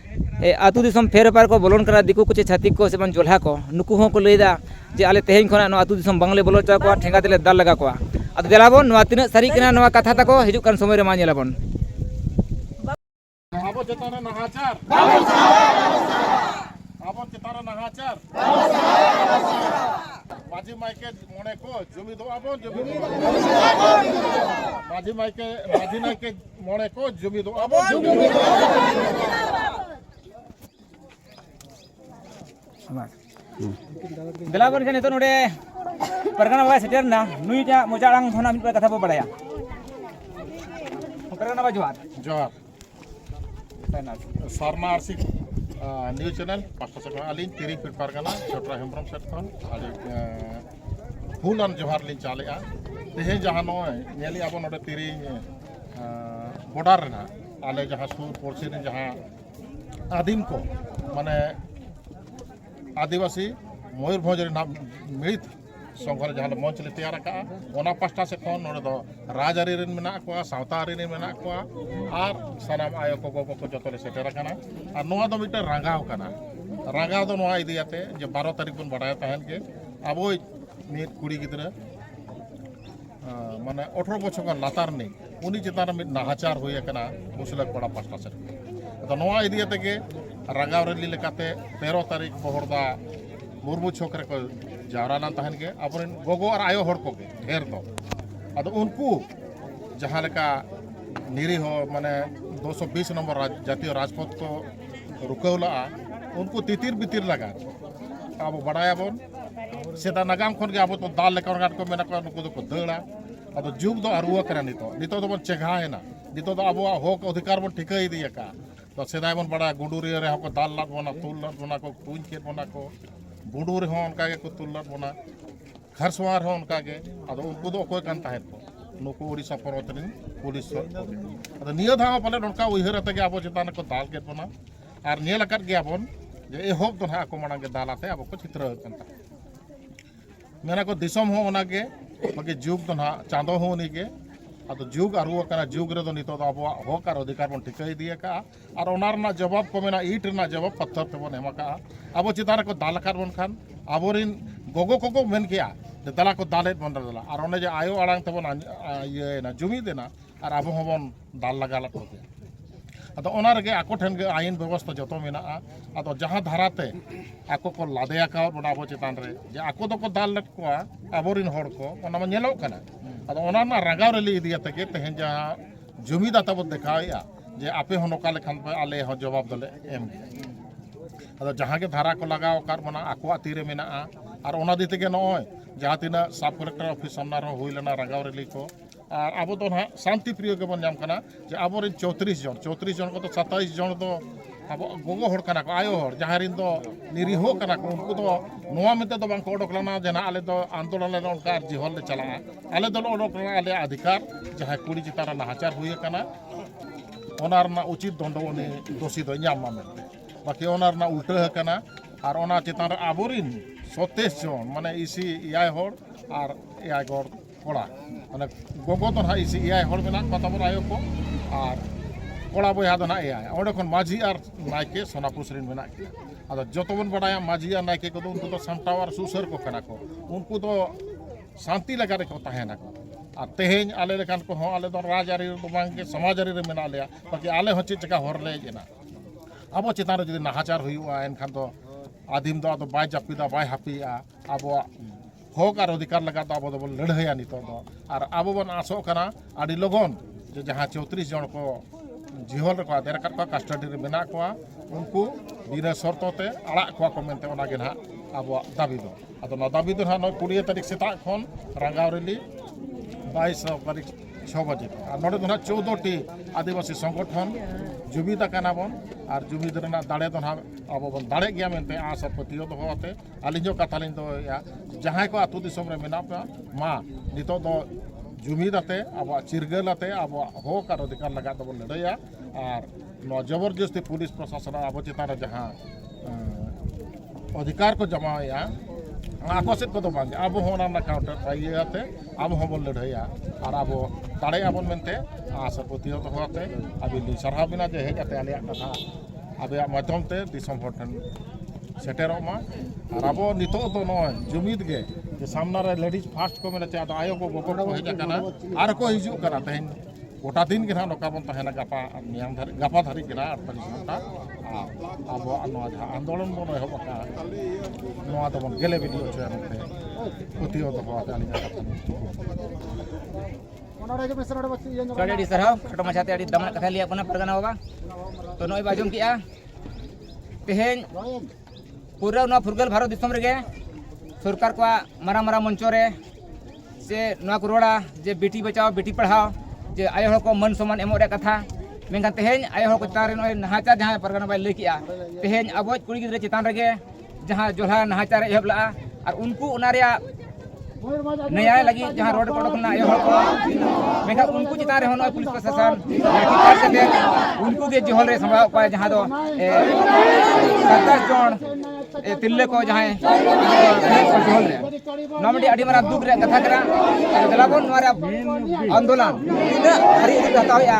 ᱟᱹᱛᱩ ᱫᱤᱥᱚᱢ ᱯᱷᱮᱨ ᱵᱟᱨ ᱠᱚ ᱵᱚᱞᱚᱱ ᱠᱟᱱᱟ ᱫᱤᱠᱩ ᱠᱚᱥᱮ ᱪᱷᱟᱹᱛᱤᱠ ᱠᱚ ᱥᱮ ᱵᱟᱝ ᱡᱚᱞᱦᱟ ᱠᱚ ᱱᱩᱠᱩ ᱦᱚᱸᱠᱚ ᱞᱟᱹᱭᱫᱟ ᱡᱮ ᱟᱞᱮ ᱛᱮᱦᱮᱧ ᱠᱷᱚᱱᱟᱜ ᱱᱚᱣᱟ ᱟᱹᱛᱩ ᱫᱤᱥᱚᱢ ᱵᱟᱝᱞᱮ ᱵᱚᱞᱚ ᱦᱚᱪᱚ ᱟᱠᱚᱣᱟ ᱴᱷᱮᱸᱜᱟ ᱛᱮᱞᱮ ᱫᱟᱞ ᱞᱟᱜᱟ ᱠᱚᱣᱟ ᱟᱫᱚ ᱫᱮᱞᱟ ᱵᱚᱱ ᱱᱚᱣᱟ ᱛᱤᱱᱟᱹᱜ ᱥᱟᱹᱨᱤᱜ ᱠᱟᱱᱟ ᱱᱚᱣᱟ ᱠᱟᱛᱷᱟ ᱛᱟᱠᱚ ᱦᱤᱡᱩᱜ ᱠᱟᱱ ᱥᱚᱢᱚᱭ ᱨᱮ ᱢᱟ ᱧᱮᱞ ᱟᱵᱚᱱ ᱟᱵᱚ ᱪᱮᱛᱟᱱ ᱨᱮ ᱱᱟᱦᱟᱪᱟᱨ ᱟᱵᱚ ᱪᱮᱛᱟᱱ ᱨᱮ ᱱᱟᱦᱟᱪᱟᱨ ᱢᱟᱹᱡᱷᱤ ᱢᱟᱭᱠᱮ ᱢᱚᱬᱮ ᱠᱚ ᱡᱩᱢᱤᱫᱚᱜ ᱟᱵᱚᱱ ᱡᱩᱢᱤᱫᱚᱜ ᱟᱵᱚᱱ ᱢᱟᱹᱡᱷᱤ ᱢᱟᱭᱠᱮ ᱢᱟᱹᱡᱷᱤ ᱱᱟᱭᱠᱮ ᱢᱚᱬᱮ ᱠᱚ ᱡᱩᱢᱤᱫᱚᱜᱼᱟ ᱵᱚᱱ ᱫᱮᱞᱟ ᱵᱚᱱ ᱠᱷᱟᱱ ᱱᱤᱛᱚᱜ ᱱᱚᱰᱮ ᱯᱟᱨᱜᱟᱱᱟ ᱵᱟᱵᱟᱭ ᱥᱮᱴᱮᱨᱱᱟ ᱱᱩᱭ ᱴᱟᱜ ᱢᱚᱪᱟ ᱟᱲᱟᱝ ᱠᱷᱚᱱᱟᱜ ᱢᱤᱫ ᱵᱟᱨ ᱠᱟᱛᱷᱟ ᱵᱚ ᱵᱟᱲᱟᱭᱟ ᱯᱟᱨᱜᱟᱱᱟ ᱵᱟᱵᱟ ᱡᱚᱦᱟᱨ ᱡᱚᱦᱟᱨ ᱥᱟᱨᱢᱟ ᱟᱨᱥᱤ ᱱᱤᱭᱩᱡᱽ ᱪᱮᱱᱮᱞ ᱯᱟᱥᱴᱟ ᱥᱮᱫ ᱠᱷᱚᱱ ᱟᱹᱞᱤᱧ ᱛᱤᱨᱤ ᱯᱤᱲ ᱯᱟᱨᱜᱟᱱᱟ ᱪᱷᱚᱴᱨᱟ ᱦᱮᱢᱵᱨᱚᱢ ᱥᱮᱫ ᱠᱷᱚᱱ ᱟᱹᱰᱤ ᱦᱩᱞᱟᱱ ᱡᱚᱦᱟᱨ ᱞᱤᱧ ᱪᱟᱞᱮᱜᱼᱟ ᱛᱮᱦᱮᱧ ᱡᱟᱦᱟᱸ ᱱᱚᱜᱼᱚᱭ ᱧᱮᱞᱮᱜ ᱟᱵᱚᱱ ᱱᱚᱰᱮ ᱛᱤᱨᱤᱧ ᱵᱚᱰᱟᱨ ᱨᱮᱱᱟᱜ ᱟᱞᱮ ᱡᱟᱦᱟᱸ ᱥᱩᱨ ᱯᱚᱲᱥᱤ ᱨᱮᱱ ᱡᱟᱦᱟᱸ ᱟᱹᱫᱤᱢ ᱠᱚ ᱢᱟᱱᱮ ᱟᱹᱫᱤᱵᱟᱹᱥᱤ ᱢᱚᱭᱩᱨᱵᱷᱚᱸᱡᱽ ᱨᱮᱱᱟᱜ ᱢᱤᱫ ᱥᱚᱝᱜᱷᱚ ᱨᱮ ᱡᱟᱦᱟᱸ ᱢᱚᱧᱪ ᱞᱮ ᱛᱮᱭᱟᱨ ᱟᱠᱟᱫᱼᱟ ᱚᱱᱟ ᱯᱟᱥᱴᱟ ᱥᱮᱫ ᱠᱷᱚᱱ ᱱᱚᱰᱮ ᱫᱚ ᱨᱟᱡᱽ ᱟᱹᱨᱤ ᱨᱮᱱ ᱢᱮᱱᱟᱜ ᱠᱚᱣᱟ ᱥᱟᱶᱛᱟ ᱟᱹᱨᱤ ᱨᱮᱱ ᱢᱮᱱᱟᱜ ᱠᱚᱣᱟ ᱟᱨ ᱥᱟᱱᱟᱢ ᱟᱭᱳ ᱠᱚ ᱜᱚᱜᱚ ᱠᱚ ᱡᱚᱛᱚ ᱞᱮ ᱥᱮᱴᱮᱨ ᱟᱠᱟᱱᱟ ᱟᱨ ᱱᱚᱣᱟ ᱫᱚ ᱢᱤᱫᱴᱟᱝ ᱨᱟᱸᱜᱟᱣ ᱠᱟᱱᱟ ᱨᱟᱸᱜᱟᱣ ᱫᱚ ᱱᱚᱣᱟ ᱤᱫᱤᱭᱟᱛᱮ ᱡᱮ ᱵᱟᱨᱚ ᱛᱟᱹᱨᱤᱠᱷ ᱵᱚᱱ ᱵᱟᱰᱟᱭ ᱛᱟᱦᱮᱱ ᱜᱮ ᱟᱵᱚᱭᱤᱡ ᱢᱤᱫ ᱠᱩᱲᱤ ᱜᱤᱫᱽᱨᱟᱹ ᱢᱟᱱᱮ ᱚᱴᱷᱨᱚ ᱵᱚᱪᱷᱚᱨ ᱠᱷᱚᱱ ᱞᱟᱛᱟᱨ ᱨᱤᱱᱤᱡ ᱩᱱᱤ ᱪᱮᱛᱟᱱ ᱨᱮ ᱢᱤᱫ ᱱᱟᱦᱟᱪᱟᱨ ᱦᱩᱭ ᱟᱠᱟᱱᱟ ᱢᱩᱥᱞᱟᱹ ᱠᱚᱲᱟ ᱯᱟᱥᱴᱟ ᱥᱮᱫ ᱟᱫᱚ ᱱᱚᱣᱟ ᱤᱫᱤ ᱠᱟᱛᱮ ᱜᱮ ᱨᱟᱜᱟᱣ ᱨᱮᱞᱤ ᱞᱮᱠᱟᱛᱮ ᱛᱮᱨᱚ ᱛᱟᱹᱨᱤᱠᱷ ᱵᱚᱦᱚᱲᱫᱟ ᱢᱩᱨᱢᱩ ᱪᱷᱚᱠ ᱨᱮᱠᱚ ᱡᱟᱣᱨᱟ ᱞᱮᱱ ᱛᱟᱦᱮᱱ ᱜᱮ ᱟᱵᱚᱨᱮᱱ ᱜᱚᱜᱚ ᱟᱨ ᱟᱭᱳ ᱦᱚᱲ ᱠᱚᱜᱮ ᱰᱷᱮᱨ ᱫᱚ ᱟᱫᱚ ᱩᱱᱠᱩ ᱡᱟᱦᱟᱸ ᱞᱮᱠᱟ ᱱᱤᱨᱤᱦᱚ ᱢᱟᱱᱮ ᱫᱩᱥᱚ ᱵᱤᱥ ᱱᱚᱢᱵᱚᱨ ᱡᱟᱛᱤᱭᱚ ᱨᱟᱡᱽᱯᱚᱛᱷ ᱠᱚ ᱨᱩᱠᱟᱹᱣ ᱞᱟᱜᱼᱟ ᱩᱱᱠᱩ ᱛᱤᱛᱤᱨ ᱵᱤᱛᱤᱨ ᱞᱟᱜᱟ ᱟᱵᱚ ᱵᱟᱰᱟᱭᱟᱵᱚᱱ ᱥᱮᱫᱟ ᱱᱟᱜᱟᱢ ᱠᱷᱚᱱ ᱜᱮ ᱟᱵᱚ ᱫᱚ ᱫᱟᱞ ᱞᱮᱠᱟ ᱜᱟᱱ ᱠᱚ ᱢᱮᱱᱟ ᱠᱚ ᱱᱩᱠᱩ ᱫᱚᱠᱚ ᱫᱟᱹᱲᱟ ᱟᱫᱚ ᱡᱩᱜᱽ ᱫᱚ ᱟᱹᱨᱩᱣ ᱟᱠᱟᱱᱟ ᱱᱤᱛᱚᱜ ᱱᱤᱛᱚᱜ ᱫᱚᱵᱚᱱ ᱪᱮᱸᱜᱷᱟᱣᱮᱱᱟ ᱱᱤᱛᱚᱜ ᱫᱚ ᱟᱵᱚᱣᱟᱜ ᱦᱚᱠ ᱚᱫᱷᱤᱠᱟᱨ ᱵᱚᱱ ᱴᱷᱤᱠᱟᱹ ᱤᱫᱤ ᱟᱠᱟᱫᱼᱟ ᱛᱚ ᱥᱮᱫᱟᱭ ᱵᱚᱱ ᱵᱟᱲᱟᱭᱟ ᱜᱩᱰᱩᱨᱤᱭᱟᱹ ᱨᱮᱦᱚᱸ ᱠᱚ ᱫᱟᱞ ᱞᱟᱫ ᱵᱚᱱᱟ ᱛᱩᱞ ᱞᱟᱫ ᱵᱚᱱᱟ ᱠᱚ ᱛᱩᱧ ᱠᱮᱫ ᱵᱚᱱᱟ ᱠᱚ ᱜᱩᱰᱩ ᱨᱮᱦᱚᱸ ᱚᱱᱠᱟ ᱜᱮᱠᱚ ᱛᱩᱞ ᱞᱟᱫ ᱵᱚᱱᱟ ᱠᱷᱟᱨᱥᱚᱣᱟ ᱨᱮᱦᱚᱸ ᱚᱱᱠᱟ ᱜᱮ ᱟᱫᱚ ᱩᱱᱠᱩ ᱫᱚ ᱚᱠᱚᱭ ᱠᱟᱱ ᱛᱟᱦᱮᱸᱫ ᱠᱚ ᱱᱩᱠᱩ ᱳᱰᱤᱥᱟ ᱯᱚᱱᱚᱛ ᱨᱮᱱ ᱯᱩᱞᱤᱥ ᱦᱚᱸ ᱠᱚ ᱜᱮ ᱟᱫᱚ ᱱᱤᱭᱟᱹ ᱫᱷᱟᱣ ᱦᱚᱸ ᱯᱟᱞᱮᱱ ᱚᱱᱠᱟ ᱩᱭᱦᱟᱹᱨ ᱟᱛᱮ ᱜᱮ ᱟᱵᱚ ᱪᱮᱛᱟᱱ ᱨᱮᱠᱚ ᱫᱟᱞ ᱠᱮᱫ ᱵᱚᱱᱟ ᱟᱨ ᱧᱮᱞ ᱟᱠᱟᱫ ᱜᱮᱭᱟ ᱵᱚᱱ ᱡᱮ ᱮᱦᱚᱵ ᱫᱚ ᱱᱟᱦᱟᱜ ᱟᱠᱚ ᱢᱟᱲᱟᱝ ᱜᱮ ᱫᱟᱞ ᱟᱛᱮ ᱟᱵᱚ ᱠᱚ ᱪᱷᱤᱛᱨᱟᱹᱣ ᱠᱟᱱ ᱛᱟᱦᱮᱸᱫ ᱢᱮᱱᱟ ᱠᱚ ᱫᱤᱥᱚᱢ ᱦᱚᱸ ᱚᱱᱟ ᱜᱮ ᱵᱟᱠᱤ ᱡᱩᱜᱽ ᱫᱚ ᱱᱟᱦᱟᱜ ᱪᱟᱸᱫᱚ ᱦᱚᱸ ᱩᱱᱤ ᱜᱮ ᱟᱫᱚ ᱡᱩᱜᱽ ᱟᱹᱨᱩ ᱟᱠᱟᱱᱟ ᱡᱩᱜᱽ ᱨᱮᱫᱚ ᱱᱤᱛᱚᱜ ᱫᱚ ᱟᱵᱚᱣᱟᱜ ᱦᱚᱸᱠ ᱟᱨ ᱚᱫᱷᱤᱠᱟᱨ ᱵᱚᱱ ᱴᱷᱤᱠᱟᱹ ᱤᱫᱤ ᱟᱠᱟᱫᱼᱟ ᱟᱨ ᱚᱱᱟ ᱨᱮᱱᱟᱜ ᱡᱚᱵᱟᱵ ᱠᱚ ᱢᱮᱱᱟ ᱤᱴ ᱨᱮᱱᱟᱜ ᱡᱚᱵᱟᱵ ᱯᱟᱛᱷᱚᱨ ᱛᱮᱵᱚᱱ ᱮᱢ ᱟᱠᱟᱫᱼᱟ ᱟᱵᱚ ᱪᱮᱛᱟᱱ ᱨᱮᱠᱚ ᱫᱟᱞ ᱟᱠᱟᱫ ᱵᱚᱱ ᱠᱷᱟᱱ ᱟᱵᱚᱨᱮᱱ ᱜᱚᱜᱚ ᱠᱚᱠᱚ ᱢᱮᱱ ᱠᱮᱜᱼᱟ ᱡᱮ ᱫᱟᱞᱟ ᱠᱚ ᱫᱟᱞᱮᱫ ᱵᱚᱱ ᱫᱟᱞᱟ ᱟᱨ ᱚᱱᱮ ᱡᱮ ᱟᱭᱳ ᱟᱲᱟᱝ ᱛᱮᱵᱚᱱ ᱤᱭᱟᱹᱭᱮᱱᱟ ᱡᱩᱢᱤᱫ ᱮᱱᱟ ᱟᱨ ᱟᱵᱚ ᱦᱚᱸᱵᱚᱱ ᱫᱟᱞ ᱞᱟᱜᱟ ᱞᱮᱫ ᱠᱚᱜᱮ ᱟᱫᱚ ᱚᱱᱟ ᱨᱮᱜᱮ ᱟᱠᱚ ᱴᱷᱮᱱ ᱜᱮ ᱟᱭᱤᱱ ᱵᱮᱵᱚᱥᱛᱷᱟ ᱡᱚᱛᱚ ᱢᱮᱱᱟᱜᱼᱟ ᱟᱫᱚ ᱡᱟᱦᱟᱸ ᱫᱷᱟᱨᱟᱛᱮ ᱟᱠᱚ ᱠᱚ ᱞᱟᱫᱮ ᱟᱠᱟᱫ ᱵᱚᱱᱟ ᱟᱵᱚ ᱪᱮᱛᱟᱱ ᱨᱮ ᱡᱮ ᱟᱠᱚ ᱫᱚᱠᱚ ᱫᱟᱞ ᱞᱮᱫ ᱠᱚᱣᱟ ᱟᱵᱚᱨᱮᱱ ᱦᱚᱲ ᱠᱚ ᱚᱱᱟ ᱢᱟ ᱧᱮᱞᱚᱜ ᱠᱟᱱᱟ ᱟᱫᱚ ᱚᱱᱟ ᱨᱮᱱᱟᱜ ᱨᱟᱸᱜᱟᱣ ᱨᱮᱞᱤ ᱤᱫᱤ ᱠᱟᱛᱮ ᱜᱮ ᱛᱮᱦᱮᱧ ᱡᱟᱦᱟᱸ ᱡᱩᱢᱤᱫ ᱟᱛᱮ ᱵᱚᱱ ᱫᱮᱠᱷᱟᱣᱮᱫᱼᱟ ᱡᱮ ᱟᱯᱮ ᱦᱚᱸ ᱱᱚᱝᱠᱟ ᱞᱮᱠᱷᱟᱱ ᱯᱮ ᱟᱞᱮ ᱦᱚᱸ ᱡᱚᱵᱟᱵ ᱫᱚᱞᱮ ᱮᱢ ᱜᱮᱭᱟ ᱟᱫᱚ ᱡᱟᱦᱟᱸ ᱜᱮ ᱫᱷᱟᱨᱟ ᱠᱚ ᱞᱟᱜᱟᱣ ᱟᱠᱟᱫ ᱵᱚᱱᱟ ᱟᱠᱚᱣᱟᱜ ᱛᱤᱨᱮ ᱢᱮᱱᱟᱜᱼᱟ ᱟᱨ ᱚᱱᱟ ᱫᱤ ᱛᱮᱜᱮ ᱱᱚᱜᱼᱚᱭ ᱡᱟᱦᱟᱸ ᱛᱤᱱᱟᱹᱜ ᱥᱟᱵ ᱠᱟᱞᱮᱠᱴᱚᱨ ᱚᱯᱷᱤᱥ ᱥᱟᱢᱱᱟ ᱨᱮᱦᱚᱸ ᱦᱩᱭ ᱞᱮᱱᱟ ᱨᱟᱜᱟᱣ ᱨᱮᱞᱤ ᱠᱚ ᱟᱨ ᱟᱵᱚ ᱫᱚ ᱱᱟᱦᱟᱜ ᱥᱟᱱᱛᱤ ᱯᱨᱤᱭᱚ ᱜᱮᱵᱚᱱ ᱧᱟᱢ ᱠᱟᱱᱟ ᱡᱮ ᱟᱵᱚᱨᱮᱱ ᱪᱚᱣᱛᱨᱤᱥ ᱡᱚᱱ ᱪᱚᱣᱛᱨᱤᱥ ᱡᱚᱱ ᱠᱚᱫᱚ ᱥᱟᱛᱟᱭᱤᱥ ᱡᱚᱱ ᱫᱚ ᱟᱵᱚ ᱜᱚᱜᱚ ᱦᱚᱲ ᱠᱟᱱᱟ ᱠᱚ ᱟᱭᱳ ᱦᱚᱲ ᱡᱟᱦᱟᱸᱭ ᱨᱮᱱ ᱫᱚ ᱱᱤᱨᱤᱦᱚ ᱠᱟᱱᱟ ᱠᱚ ᱩᱱᱠᱩ ᱫᱚ ᱱᱚᱣᱟ ᱢᱮᱱᱛᱮ ᱫᱚ ᱵᱟᱝᱠᱚ ᱚᱰᱚᱠ ᱞᱮᱱᱟ ᱡᱮ ᱱᱟᱦᱟᱜ ᱟᱞᱮ ᱫᱚ ᱟᱱᱫᱳᱞᱚᱱ ᱞᱮ ᱚᱱᱠᱟ ᱟᱨ ᱡᱤᱦᱚᱞ ᱞᱮ ᱪᱟᱞᱟᱜᱼᱟ ᱟᱞᱮ ᱫᱚᱞᱮ ᱚᱰᱚᱠ ᱞᱮᱱᱟ ᱟᱞᱮᱭᱟᱜ ᱚᱫᱷᱤᱠᱟᱨ ᱡᱟᱦᱟᱸᱭ ᱠᱩᱲᱤ ᱪᱮᱛᱟᱱ ᱨᱮ ᱱᱟᱦᱟᱪᱟᱨ ᱦᱩᱭ ᱟᱠᱟᱱᱟ ᱚᱱᱟ ᱨᱮᱱᱟᱜ ᱩᱪᱤᱛ ᱫᱚᱱᱰᱚ ᱩᱱᱤ ᱫᱳᱥᱤ ᱫᱚᱭ ᱧᱟᱢᱟ ᱢᱮᱱᱛᱮ ᱵᱟᱠᱤ ᱚᱱᱟ ᱨᱮᱱᱟᱜ ᱩᱞᱴᱟᱹ ᱟᱠᱟᱱᱟ ᱟᱨ ᱚᱱᱟ ᱪᱮᱛᱟᱱ ᱨᱮ ᱟᱵᱚᱨᱤᱱ ᱥᱚᱛᱮᱥ ᱡᱚᱱ ᱢᱟᱱᱮ ᱤᱥᱤ ᱮᱭᱟᱭ ᱦᱚᱲ ᱟᱨ ᱮᱭᱟᱭ ᱜᱚᱲ ᱠᱚᱲᱟ ᱢᱟᱱᱮ ᱜᱚᱜᱚ ᱫᱚ ᱱᱟᱦᱟᱜ ᱤᱥᱤ ᱮᱭᱟᱭ ᱦᱚᱲ ᱢᱮᱱᱟᱜ ᱠᱚᱣᱟ ᱛᱟᱵᱚᱱ ᱟᱭᱳ ᱠᱚ ᱟᱨ ᱠᱚᱲᱟ ᱵᱚᱭᱦᱟ ᱫᱚ ᱱᱟᱦᱟᱜ ᱮᱭᱟᱭ ᱚᱸᱰᱮ ᱠᱷᱚᱱ ᱢᱟᱹᱡᱷᱤ ᱟᱨ ᱱᱟᱭᱠᱮ ᱥᱚᱱᱟᱯᱩᱥ ᱨᱮᱱ ᱢᱮᱱᱟᱜ ᱠᱤᱱᱟ ᱟᱫᱚ ᱡᱚᱛᱚ ᱵᱚᱱ ᱵᱟᱰᱟᱭᱟ ᱢᱟᱹᱡᱷᱤ ᱟᱨ ᱱᱟᱭᱠᱮ ᱠᱚᱫᱚ ᱩᱱᱠᱩ ᱫᱚ ᱥᱟᱢᱴᱟᱣ ᱟᱨ ᱥᱩᱥᱟᱹᱨ ᱠᱚ ᱠᱟᱱᱟ ᱠᱚ ᱩᱱᱠᱩ ᱫᱚ ᱥᱟᱱᱛᱤ ᱞᱟᱜᱟ ᱨᱮᱠᱚ ᱛᱟᱦᱮᱱᱟ ᱟᱨ ᱛᱮᱦᱮᱧ ᱟᱞᱮ ᱞᱮᱠᱟᱱ ᱠᱚᱦᱚᱸ ᱟᱞᱮ ᱫᱚ ᱨᱟᱡᱽᱟᱹᱨᱤ ᱨᱮᱫᱚ ᱵᱟᱝᱜᱮ ᱥᱚᱢᱟᱡᱽᱟᱹᱨᱤ ᱨᱮ ᱢᱮᱱᱟᱜ ᱞᱮᱭᱟ ᱵᱟᱹᱠᱤ ᱟᱞᱮ ᱦᱚᱸ ᱪᱮᱫ ᱪᱮᱠᱟ ᱦᱚᱨ ᱞᱮ ᱦᱮᱡ ᱮᱱᱟ ᱟᱵᱚ ᱪᱮᱛᱟᱱ ᱨᱮ ᱡᱩᱫᱤ ᱱᱟᱦᱟᱪᱟᱨ ᱦᱩᱭᱩᱜᱼᱟ ᱮᱱᱠᱷᱟᱱ ᱫᱚ ᱟᱹᱫᱤᱢ ᱫᱚ ᱟᱫᱚ ᱵᱟᱭ ᱡᱟᱹᱯᱤᱫᱟ ᱵᱟᱭ ᱦᱟᱹᱯᱤᱭᱮᱜᱼᱟ ᱟᱵᱚᱣᱟᱜ ᱦᱚᱸᱠ ᱟᱨ ᱚᱫᱷᱤᱠᱟᱨ ᱞᱟᱜᱟᱫ ᱫᱚ ᱟᱵᱚ ᱫᱚᱵᱚᱱ ᱞᱟᱹᱲᱦᱟᱹᱭᱟ ᱱᱤᱛᱚᱜ ᱫᱚ ᱟᱨ ᱟᱵᱚ ᱵᱚᱱ ᱟᱥᱚᱜ ᱠᱟᱱᱟ ᱟᱹᱰᱤ ᱞᱚᱜᱚᱱ ᱡᱮ ᱡᱟᱦᱟᱸ ᱪᱳᱛᱨᱤᱥ ᱡᱚᱱ ᱠᱚ ᱡᱤᱦᱚᱞ ᱨᱮᱠᱚ ᱟᱫᱮᱨ ᱟᱠᱟᱫ ᱠᱚᱣᱟ ᱠᱟᱥᱴᱚᱰᱤ ᱨᱮ ᱢᱮᱱᱟᱜ ᱠᱚᱣᱟ ᱩᱱᱠᱩ ᱵᱤᱱᱟᱹ ᱥᱚᱨᱛᱚ ᱛᱮ ᱟᱲᱟᱜ ᱠᱚᱣᱟ ᱠᱚ ᱢᱮᱱᱛᱮ ᱚᱱᱟᱜᱮ ᱱᱟᱦᱟᱜ ᱟᱵᱚᱣᱟᱜ ᱫᱟᱹᱵᱤ ᱫᱚ ᱟᱫᱚ ᱱᱚᱣᱟ ᱫᱟᱹᱵᱤ ᱫᱚ ᱱᱟᱦᱟᱜ ᱱᱚᱜᱼᱚᱭ ᱠᱩᱲᱤᱭᱟᱹ ᱛᱟᱹᱨᱤᱠᱷ ᱥᱮᱛᱟᱜ ᱠᱷᱚᱱ ᱨᱟᱸᱜᱟᱣ ᱨᱮᱞᱤ ᱵᱟᱭᱤᱥ ᱛᱟᱹᱨᱤᱠᱷ ᱪᱷᱚ ᱵᱟᱡᱮ ᱟᱨ ᱱᱚᱰᱮ ᱫᱚ ᱱᱟᱦᱟᱜ ᱪᱳᱫᱳᱴᱤ ᱟᱹᱫᱤᱵᱟᱹᱥᱤ ᱥᱚᱝᱜᱚᱴᱷᱚᱱ ᱡᱩᱢᱤᱫ ᱟᱠᱟᱱᱟ ᱵᱚᱱ ᱟᱨ ᱡᱩᱢᱤᱫ ᱨᱮᱱᱟᱜ ᱫᱟᱲᱮ ᱫᱚ ᱱᱟᱦᱟᱜ ᱟᱵᱚ ᱵᱚᱱ ᱫᱟᱲᱮᱜ ᱜᱮᱭᱟ ᱢᱮᱱᱛᱮ ᱟᱸᱥ ᱟᱨ ᱯᱟᱹᱛᱭᱟᱹᱣ ᱫᱚᱦᱚ ᱟᱛᱮ ᱟᱹᱞᱤᱧ ᱦᱚᱸ ᱠᱟᱛᱷᱟ ᱞᱤᱧ ᱫᱚᱦᱚᱭᱮᱫᱼᱟ ᱡᱟᱦᱟᱸᱭ ᱠᱚ ᱟᱹᱛᱩ ᱫᱤᱥᱚᱢ ᱨᱮ ᱢᱮᱱᱟᱜ ᱯᱮᱭᱟ ᱢᱟ ᱱᱤᱛᱚᱜ ᱫᱚ ᱡᱩᱢᱤᱫ ᱟᱛᱮ ᱟᱵᱚᱣᱟᱜ ᱪᱤᱨᱜᱟᱹᱞ ᱟᱛᱮ ᱟᱵᱚᱣᱟᱜ ᱦᱚᱠ ᱟᱨ ᱚᱫᱷᱤᱠᱟᱨ ᱞᱟᱜᱟᱫ ᱫᱚᱵᱚᱱ ᱞᱟᱹᱲᱦᱟᱹᱭᱟ ᱟᱨ ᱱᱚᱣᱟ ᱡᱚᱵᱚᱨ ᱡᱚᱥᱛᱤ ᱯᱩᱞᱤᱥ ᱯᱨᱚᱥᱟᱥᱚᱱ ᱟᱵᱚ ᱪᱮᱛᱟᱱ ᱨᱮ ᱡᱟᱦᱟᱸ ᱚᱫᱷᱤᱠᱟᱨ ᱠᱚ ᱡᱟᱢᱟᱣᱮᱜᱼᱟ ᱟᱠᱚ ᱥᱮᱫ ᱠᱚᱫᱚ ᱵᱟᱝ ᱟᱵᱚ ᱦᱚᱸ ᱚᱱᱟ ᱨᱮᱱᱟᱜ ᱠᱟᱣᱴᱟᱨ ᱤᱭᱟᱹ ᱟᱛᱮ ᱟᱵᱚ ᱦᱚᱸᱵᱚᱱ ᱞᱟᱹᱲᱦᱟᱹᱭᱟ ᱟᱨ ᱟᱵᱚ ᱫᱟᱲᱮᱭᱟᱜᱼᱟ ᱵᱚᱱ ᱢᱮᱱᱛᱮ ᱟᱥᱟ ᱯᱟᱹᱛᱭᱟᱹᱣ ᱫᱚᱦᱚ ᱟᱛᱮ ᱟᱹᱵᱤᱱ ᱞᱤᱧ ᱥᱟᱨᱦᱟᱣ ᱵᱮᱱᱟ ᱡᱮ ᱦᱮᱡ ᱠᱟᱛᱮ ᱟᱞᱮᱭᱟᱜ ᱠᱟᱛᱷᱟ ᱟᱵᱮᱭᱟᱜ ᱢᱟᱫᱽᱫᱷᱚᱢ ᱛᱮ ᱫᱤᱥᱚᱢ ᱦᱚᱲ ᱴᱷᱮᱱ ᱥᱮᱴᱮᱨᱚᱜ ᱢᱟ ᱟᱨ ᱟᱵᱚ ᱱᱤᱛᱚᱜ ᱫᱚ ᱱᱚᱜᱼᱚᱭ ᱡᱩᱢᱤᱫ ᱜᱮ ᱡᱮ ᱥᱟᱢᱱᱟ ᱨᱮ ᱞᱮᱰᱤᱡᱽ ᱯᱷᱟᱥᱴ ᱠᱚ ᱢᱮᱱᱟ ᱪᱮ ᱟᱫᱚ ᱟᱭᱳ ᱠᱚ ᱜᱚᱜᱚ ᱠᱚ ᱦᱮᱡ ᱟᱠᱟᱱᱟ ᱟᱨ ᱠᱚ ᱦᱤᱡᱩᱜ ᱠᱟᱱᱟ ᱛᱮᱦᱮᱧ ᱜᱚᱴᱟ ᱫᱤᱱ ᱜᱮ ᱱᱟᱦᱟᱜ ᱱᱚᱝᱠᱟ ᱵᱚᱱ ᱛᱟᱦᱮᱱᱟ ᱜᱟᱯᱟ ᱢᱮᱭᱟᱝ ᱫᱷᱟᱹᱨᱤᱡ ᱜᱟᱯᱟ ᱫᱷᱟᱹᱨᱤᱡ ᱜᱮ ᱱᱟᱦᱟᱜ ᱟᱴᱛᱟᱞᱤᱥ ᱜᱷᱚᱱᱴᱟ ᱟᱨ ᱟᱵᱚᱣᱟᱜ ᱱᱚᱣᱟ ᱡᱟᱦᱟᱸ ᱟᱱᱫᱳᱞᱚᱱ ᱵᱚᱱ ᱮᱦᱚᱵ ᱟᱠᱟᱫᱼᱟ ᱱᱚᱣᱟ ᱫᱚᱵᱚᱱ ᱜᱮᱞᱮ ᱵᱤᱞᱤ ᱦᱚᱪᱚᱭᱟ ᱢᱮᱱᱛᱮ ᱯᱟᱹᱛᱭᱟᱹᱣ ᱫᱚᱦᱚ ᱟᱠᱟᱫ ᱟᱹᱞᱤᱧᱟᱜ ᱠᱟᱛᱷᱟ ᱟᱹᱰᱤ ᱥᱟᱨᱦᱟᱣ ᱠᱷᱟᱴᱚ ᱢᱟᱪᱷᱟᱛᱮ ᱟᱹᱰᱤ ᱫᱟᱢᱟᱱ ᱠᱟᱛᱷᱟᱭ ᱞᱟᱹᱭᱟᱫ ᱵᱚᱱᱟ ᱯᱟᱨᱜᱟᱱᱟ ᱵᱟᱵᱟ ᱛᱚ ᱱᱚᱜᱼᱚᱭ ᱵᱚ ᱟᱸᱡᱚᱢ ᱠᱮᱜᱼᱟ ᱛᱮᱦᱮᱧ ᱯᱩᱨᱟᱹ ᱱᱚᱣᱟ ᱯᱷᱩᱨᱜᱟᱹᱞ ᱵᱷᱟᱨᱚᱛ ᱫᱤᱥᱚᱢ ᱨᱮᱜᱮ ᱥᱚᱨᱠᱟᱨ ᱠᱚᱣᱟᱜ ᱢᱟᱨᱟᱝ ᱢᱟᱨᱟᱝ ᱢᱚᱧᱪᱚ ᱨᱮ ᱥᱮ ᱱᱚᱣᱟ ᱠᱚ ᱨᱚᱲᱟ ᱡᱮ ᱵᱮᱴᱤ ᱵᱟᱪᱟᱣ ᱵᱮᱴᱤ ᱯᱟᱲᱦᱟᱣ ᱡᱮ ᱟᱭᱳ ᱦᱚᱲ ᱠᱚ ᱢᱟᱹᱱ ᱥᱚᱢᱟᱱ ᱮᱢᱚᱜ ᱨᱮᱭᱟᱜ ᱠᱟᱛᱷᱟ ᱢᱮᱱᱠᱷᱟᱱ ᱛᱮᱦᱮᱧ ᱟᱭᱳ ᱦᱚᱲ ᱠᱚ ᱪᱮᱛᱟᱱ ᱨᱮ ᱱᱚᱜᱼᱚᱭ ᱱᱟᱦᱟᱪᱟᱨ ᱡᱟᱦᱟᱸ ᱯᱟᱨᱜᱟᱱᱟ ᱵᱟᱵᱟᱭ ᱞᱟᱹᱭ ᱠᱮᱜᱼᱟ ᱛᱮᱦᱮᱧ ᱟᱵᱚᱭᱤᱡ ᱠᱩᱲᱤ ᱜᱤᱫᱽᱨᱟᱹ ᱪᱮᱛᱟᱱ ᱨᱮᱜᱮ ᱡᱟᱦᱟᱸ ᱡᱚᱞᱦᱟ ᱱᱟᱦᱟᱪᱟᱨ ᱮᱦᱚᱵ ᱞᱟᱜᱼᱟ ᱟᱨ ᱩᱱᱠᱩ ᱚᱱᱟ ᱨᱮᱭᱟᱜ ᱱᱮᱭᱟᱭ ᱞᱟᱹᱜᱤᱫ ᱡᱟᱦᱟᱸ ᱨᱚᱰ ᱠᱚᱰᱚ ᱠᱷᱚᱱᱟᱜ ᱮᱦᱚᱵ ᱠᱚᱜᱼᱟ ᱢᱮᱱᱠᱷᱟᱱ ᱩᱱᱠᱩ ᱪᱮᱛᱟᱱ ᱨᱮᱦᱚᱸ ᱱᱚᱜᱼᱚᱭ ᱯᱩᱞᱤᱥ ᱯᱨᱚᱥᱟᱥᱚᱱ ᱞᱟᱹᱴᱷᱤ ᱪᱟᱨᱡᱽ ᱠᱟᱛᱮ ᱩᱱᱠᱩ ᱜᱮ ᱡᱚᱦᱚᱞ ᱨᱮ ᱥᱟᱢᱵᱟᱣ ᱠᱚᱣᱟ ᱡᱟᱦᱟᱸ ᱫᱚ ᱥᱟᱛᱟᱥ ᱡᱚᱱ ᱛᱤᱨᱞᱟᱹ ᱠᱚ ᱡᱟᱦᱟᱸᱭ ᱡᱚᱦᱚᱞ ᱨᱮ ᱱᱚᱣᱟ ᱢᱤᱫᱴᱤᱡ ᱟᱹᱰᱤ ᱢᱟᱨᱟᱝ ᱫᱩᱠ ᱨᱮᱭᱟᱜ ᱠᱟᱛᱷᱟ ᱠᱟᱱᱟ ᱫᱮᱞᱟᱵᱚᱱ ᱱᱚᱣᱟ ᱨᱮᱭᱟᱜ ᱟᱱᱫᱳᱞᱚᱱ ᱛᱤᱱᱟᱹᱜ ᱦᱟᱹᱨᱤᱡ ᱦᱟᱛᱟᱣᱮᱫᱼᱟ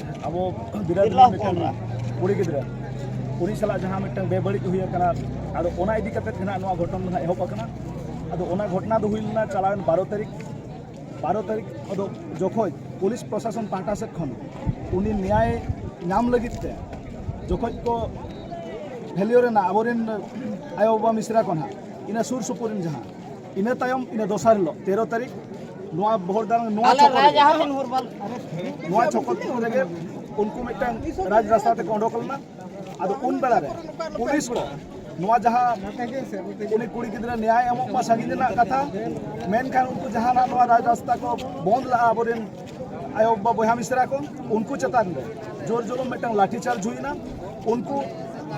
ᱟᱵᱚ ᱵᱤᱨᱟᱴ ᱢᱤᱫᱴᱟᱝ ᱠᱩᱲᱤ ᱜᱤᱫᱽᱨᱟᱹ ᱩᱱᱤ ᱥᱟᱞᱟᱜ ᱡᱟᱦᱟᱸ ᱢᱤᱫᱴᱟᱝ ᱵᱮᱵᱟᱹᱲᱤᱡ ᱦᱩᱭ ᱟᱠᱟᱱᱟ ᱟᱫᱚ ᱚᱱᱟ ᱤᱫᱤ ᱠᱟᱛᱮ ᱜᱮ ᱱᱚᱣᱟ ᱜᱷᱚᱴᱚᱱ ᱫᱚ ᱱᱟᱜ ᱮᱦᱚᱵ ᱟᱠᱟᱱᱟ ᱟᱫᱚ ᱚᱱᱟ ᱜᱷᱚᱴᱚᱱᱟ ᱫᱚ ᱦᱩᱭ ᱞᱮᱱᱟ ᱪᱟᱞᱟᱣᱮᱱ ᱵᱟᱨᱚ ᱛᱟᱹᱨᱤᱠᱷ ᱵᱟᱨᱚ ᱛᱟᱹᱨᱤᱠᱷ ᱟᱫᱚ ᱡᱚᱠᱷᱚᱡ ᱯᱩᱞᱤᱥ ᱯᱨᱚᱥᱟᱥᱚᱱ ᱯᱟᱦᱴᱟ ᱥᱮᱫ ᱠᱷᱚᱱ ᱩᱱᱤ ᱱᱮᱭᱟᱭ ᱧᱟᱢ ᱞᱟᱹᱜᱤᱫ ᱛᱮ ᱡᱚᱠᱷᱚᱡ ᱠᱚ ᱵᱷᱮᱞᱤᱭᱳ ᱨᱮᱱᱟᱜ ᱟᱵᱚᱨᱮᱱ ᱟᱭᱳᱼᱵᱟᱵᱟ ᱢᱤᱥᱨᱟ ᱠᱚ ᱱᱟᱜ ᱤᱱᱟᱹ ᱥᱩᱨ ᱥᱩᱯᱩᱨ ᱨᱮᱱ ᱡᱟᱦᱟᱸ ᱤᱱᱟᱹ ᱛᱟᱭᱚᱢ ᱤᱱᱟᱹ ᱫᱚᱥᱟᱨ ᱦᱤᱞᱳᱜ ᱛᱮᱨᱚ ᱛᱟᱹᱨᱤᱠᱷ ᱱᱚᱣᱟ ᱵᱚᱦᱚᱲᱫᱟᱝ ᱱᱚᱣᱟ ᱪᱷᱚᱠᱚ ᱨᱮᱜᱮ ᱱᱚᱣᱟ ᱪᱷᱚᱠᱚ ᱨᱮᱜᱮ ᱩᱱᱠᱩ ᱢᱤᱫᱴᱟᱝ ᱨᱟᱡᱽ ᱨᱟᱥᱛᱟ ᱛᱮᱠᱚ ᱚᱰᱚᱠ ᱞᱮᱱᱟ ᱟᱫᱚ ᱩᱱ ᱵᱮᱲᱟ ᱨᱮ ᱯᱩᱞᱤᱥ ᱠᱚ ᱱᱚᱣᱟ ᱡᱟᱦᱟᱸ ᱩᱱᱤ ᱠᱩᱲᱤ ᱜᱤᱫᱽᱨᱟᱹ ᱱᱮᱭᱟᱭ ᱮᱢᱚᱜ ᱢᱟ ᱥᱟᱺᱜᱤᱧ ᱨᱮᱱᱟᱜ ᱠᱟᱛᱷᱟ ᱢᱮᱱᱠᱷᱟᱱ ᱩᱱᱠᱩ ᱡᱟᱦᱟᱸ ᱱᱚᱣᱟ ᱨᱟᱡᱽ ᱨᱟᱥᱛᱟ ᱠᱚ ᱵᱚᱱᱫ ᱞᱟᱜᱼᱟ ᱟᱵᱚᱨᱮᱱ ᱟᱭᱳ ᱵᱟᱵᱟ ᱵᱚᱭᱦᱟ ᱢᱤᱥᱨᱟ ᱠᱚ ᱩᱱᱠᱩ ᱪᱮᱛᱟᱱ ᱨᱮ ᱡᱳᱨ ᱡᱩᱞᱩᱢ ᱢᱤᱫᱴᱟᱝ ᱞᱟᱴᱷᱤ ᱪᱟᱨᱡᱽ ᱦᱩᱭᱱᱟ ᱩᱱᱠᱩ